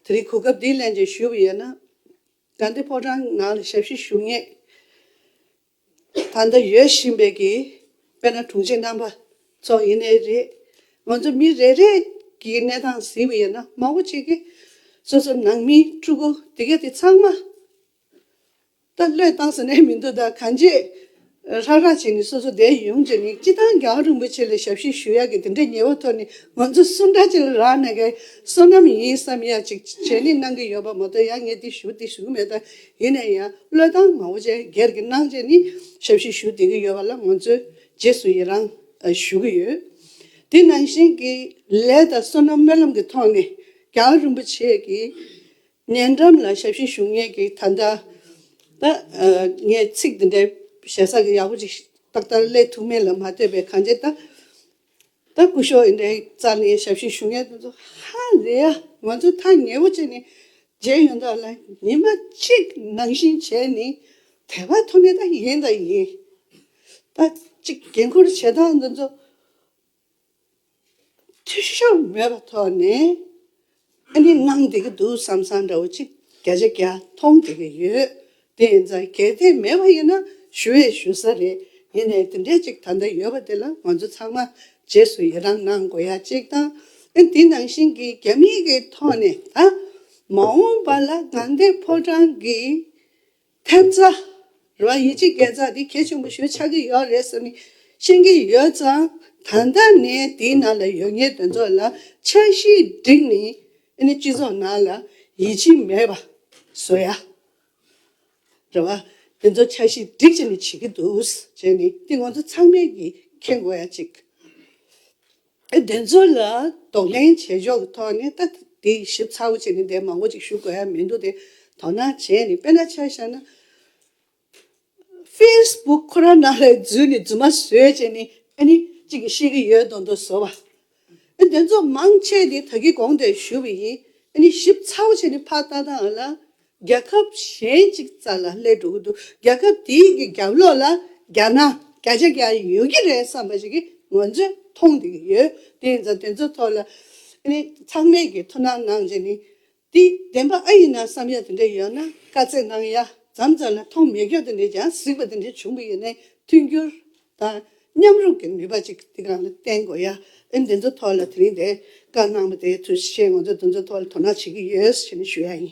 དེ་རིང་གོ་སྐབས་འདི་གླེང་བྱས་ཞུས་པ་ཡོད་ན། དགའ་བདེ་ཕོ་བྲང་ནང་ལ་ཞབས་ཕྱི་ཞུ་ངེས། ད་ལྟ་ཡོད་བཞིན་པའི་གི་དཔེར་ན་དྲུང་ཆེ་རྣམ་པ་ཚོ་ཡིན་ནི་རེད། ང་ཚོ་མི་རེ་རེས་ཀྱི་གནས་སྟངས་ཟིན་པ་ཡིན་ན་མང་བོ་གཅིག་གིས་སོ་སོ་ནང་མི་ཕྲུ་གུ་དེ་ག་དེ་ཚང་མ་ད་བློས་བཏང་ཟེར་ནས་མི་འདུག་ད་གང་རྗེས་རག་རག་བྱས་ནས་སོ་སོ་བསྡད་ཡོང་རྗེས་ནས་སྤྱི་བཏང་རྒྱ་རིང་པོ་ཆེ་ལ་ཞབས་ཕྱི་ཞུ་ཡག་གི་དེ་འདྲའི་ཉེ་བོ་ཐོག་ནས་ང་ཚོ་སུ་འདྲ་ཅིག་ལ་རག་ན་ག་སོ་ནམ་ཡིན་བསམ་ཡག་ཅིག་བྱས་ནས་གནང་གི་ཡོད་པ་མ་གཏོགས་ཡ་ངས་དེ་ཞུ་དེ་ཞུ་མེད་ད་ཡིན་ན་ཡང་བློས་བཏང་མང་བོ་ཅན་སྒེར་གྱི་སྣང་བཅས་ནི་ཞབས་ཕྱི་ཞུ་བདེ་གི་ཡོད་པ་ལ་ང་ཚོས་རྗེས་སུ་ཡི་རང་ཞུ་གི་ཡོད། དེ་ནང་བཞིན་གྱི་ལས་དང་བསོད་ནམས་སྨོན་ལམ་གྱི་ཐོག་ནས་ཀྱང་རིན་པོ་ཆེ་གི་ཉེ་འགྲམ་ལ་ཞབས་ཕྱི་ཞུ་ངེས་ཀྱི་ད་ལྟ་ད་ངས་ཚིག་འདི་འདྲའི་ཞེ་ས་གི་ཡག་པོ་ཅིག་ཏག་ཏག་གླེང་ཐུབ་མིན་ལ་མ་ལྟོས་པའི་གང་ཅི་ད། ད་སྐུ་ཞོགས་ཨིན་དྲའི་རྩ་ནས་ཞབས་ཕྱི་ཞུ་མཁན་དེ་ཚོ་ཧ་ལས་ཡ་ང་ཚོའི་ཐག་ཉེ་བོ་བཅད་ནས་བརྗེད་ཡོང་དག་ལ་ཉིན་མ་གཅིག་ནང་བཞིན་བྱས་ནས་དེ་བ་ཐོ་ནས་ད་ཡིན་ད་ཡིན་ད་ཅིག་འགན་ཁུར་བྱེད་སྟངས་དེ་ཚོ་འཐུས་ཤོར་མེད་པ་ཐོག་ནས་ཨ་ནི་གནང་བསྡད་ཀྱི་འདུག་བསམ་བསམ་འདྲ་བོ་ཅིག་བརྒྱ་ཆ་བརྒྱ་མཐོང་བསྡད་ཀྱི་ཡོད། དེ་ཡིན་ཙང་གལ་ཏེ་མེད་པ་ཡིན་ན་ཞུ་བས་ཞུ་ས་རེད། ཡིན་ནས་དེ་འདྲས་ཅིག་ད་ལྟ་ཡོད་པ་དེ་ལ་ང་ཚོ་ཚང་མ་རྗེས་སུ་ཡི་རང་གནང་དགོས་ཡ་གཅིག་དང། དེ་ནང་བཞིན་གྱི་རྒྱ་མིའི་གི་ཐོག་ནས་ད་མ་འོངས་པ་ལ་ང་འདས་ཕོ་བྲང་གི། ཐེབས་རྩ། རོ་ཡི་སྤྱི་རྒྱལ་རྩ་འདི་གལ་ཆེན་པོ་ཞུ་ཆགས་ཀྱི་ཡོད་རེད་བསམ་ནས་ཤེས་ཀྱི་ཡོད་ཙང་ད་ལྟ་ནས་དེའི་ནང་ལ་ཡོད་ངེས་དོན་ཚོགས་ལ་འཆར་གཞི་བསྒྲིགས་ནས་སྤྱི་ཚོགས་ནང་ལ་ཡིད་ཆེས་མེད་པ་བཟོ་ཡ་རེད་བ། དེ་ཚོ་འཆར་གཞི་བསྒྲིགས་བྱས་ནས་བྱེད་ཀྱི་འདུག་བྱས་ནས་དེ་ང་ཚོ་ཚང་མས་ཀྱིས་མཁྱེན་དགོས་ཡ་གཅིག། དེ་ཚོ་ལ་དོགས་གླེང་བྱེད་ཕྱོགས་གི་ཐོག་ནས་ད་དེ་ཞིབ་ཚགས་པོ་བྱས་ནས་འདས་མང་བོ་ཅིག་ཞུ་དགོས་ཡ་མི་འདུག་དེ་དོ་སྣང་བྱས་ནས་དཔེ་ན་ཆ་བཞག་ན། Facebook ཁོ་རང་ནང་ལ་འཛུལ་ནས་རྫུན་མ་བཟོས་བྱས་ནས་ཨ་ནི་ཅིག་གིས་ཤེས་ཀྱི་ཡོད་དོ་འདུག་བཟོ་བ། དེ་ཚོ་མང་ཆེ་དེ་ད་གི་གོང་དེར་ཞུ་བ་ཡིན་ཨ་ནི་ཞིབ་ཚགས་པོ་བྱས་ནས་ཕར་བལྟ་ནའང་ལ་རྒྱལ་ཁབ་གཞན་གཅིག་རྩ་ལ་སླེབས་འགྲོ་གི་འདུག་རྒྱལ་ཁབ་དེའི་གི་རྒྱབ་ལོག་ལ་རྒྱ་ནག་བརྒྱ་ཆ་བརྒྱ་ཡོད་ཀྱི་རེད་བསམ་པ་ཞིག་གི་ངོ་ཚོས་མཐོང་བསྡད་ཀྱི་ཡོད་དེ་ཡིན་ཙང་དེ་ཚོའི་ཐོག་ལ་ནི་ཚང་མས་གི་ཐུགས་སྣང་གནང་རྗེས་ནི་དེ་བདེན་པ་ཨ་ཡིན་ན་བསམ་ཡ་དེ་འདྲ་ཡོད་ན་བཀའ་བསྩལ་གནང་ཡ་ཛམ་ཙམ་ལ་མཐོང་མེད་སྐྱོ་དེ་འདྲས་ཀྱང་གཟིགས་པ་དེ་འདྲས་བྱུང་གི་ཡོད་ནས་མཐུན་འགྱུར་དང། མཉམ་རུབ་ཀྱི་ནུས་པ་གཅིག་འདི་ག་ལ་བརྟེན་དགོས་ཡ། ཨེ་འདི་ཚོའི་ཐོག་ལ་དེ་རིང་དེ་ག་གནང་བ་དེའི་ཚུལ་བཞིན་ང་ཚོས་འདི་ཚོའི་ཐོག་ལ་དོ་སྣང་བྱེད་ཀྱི་ཡོད་ཟེར་ནས་ཞུ་ཡ་ཡིན།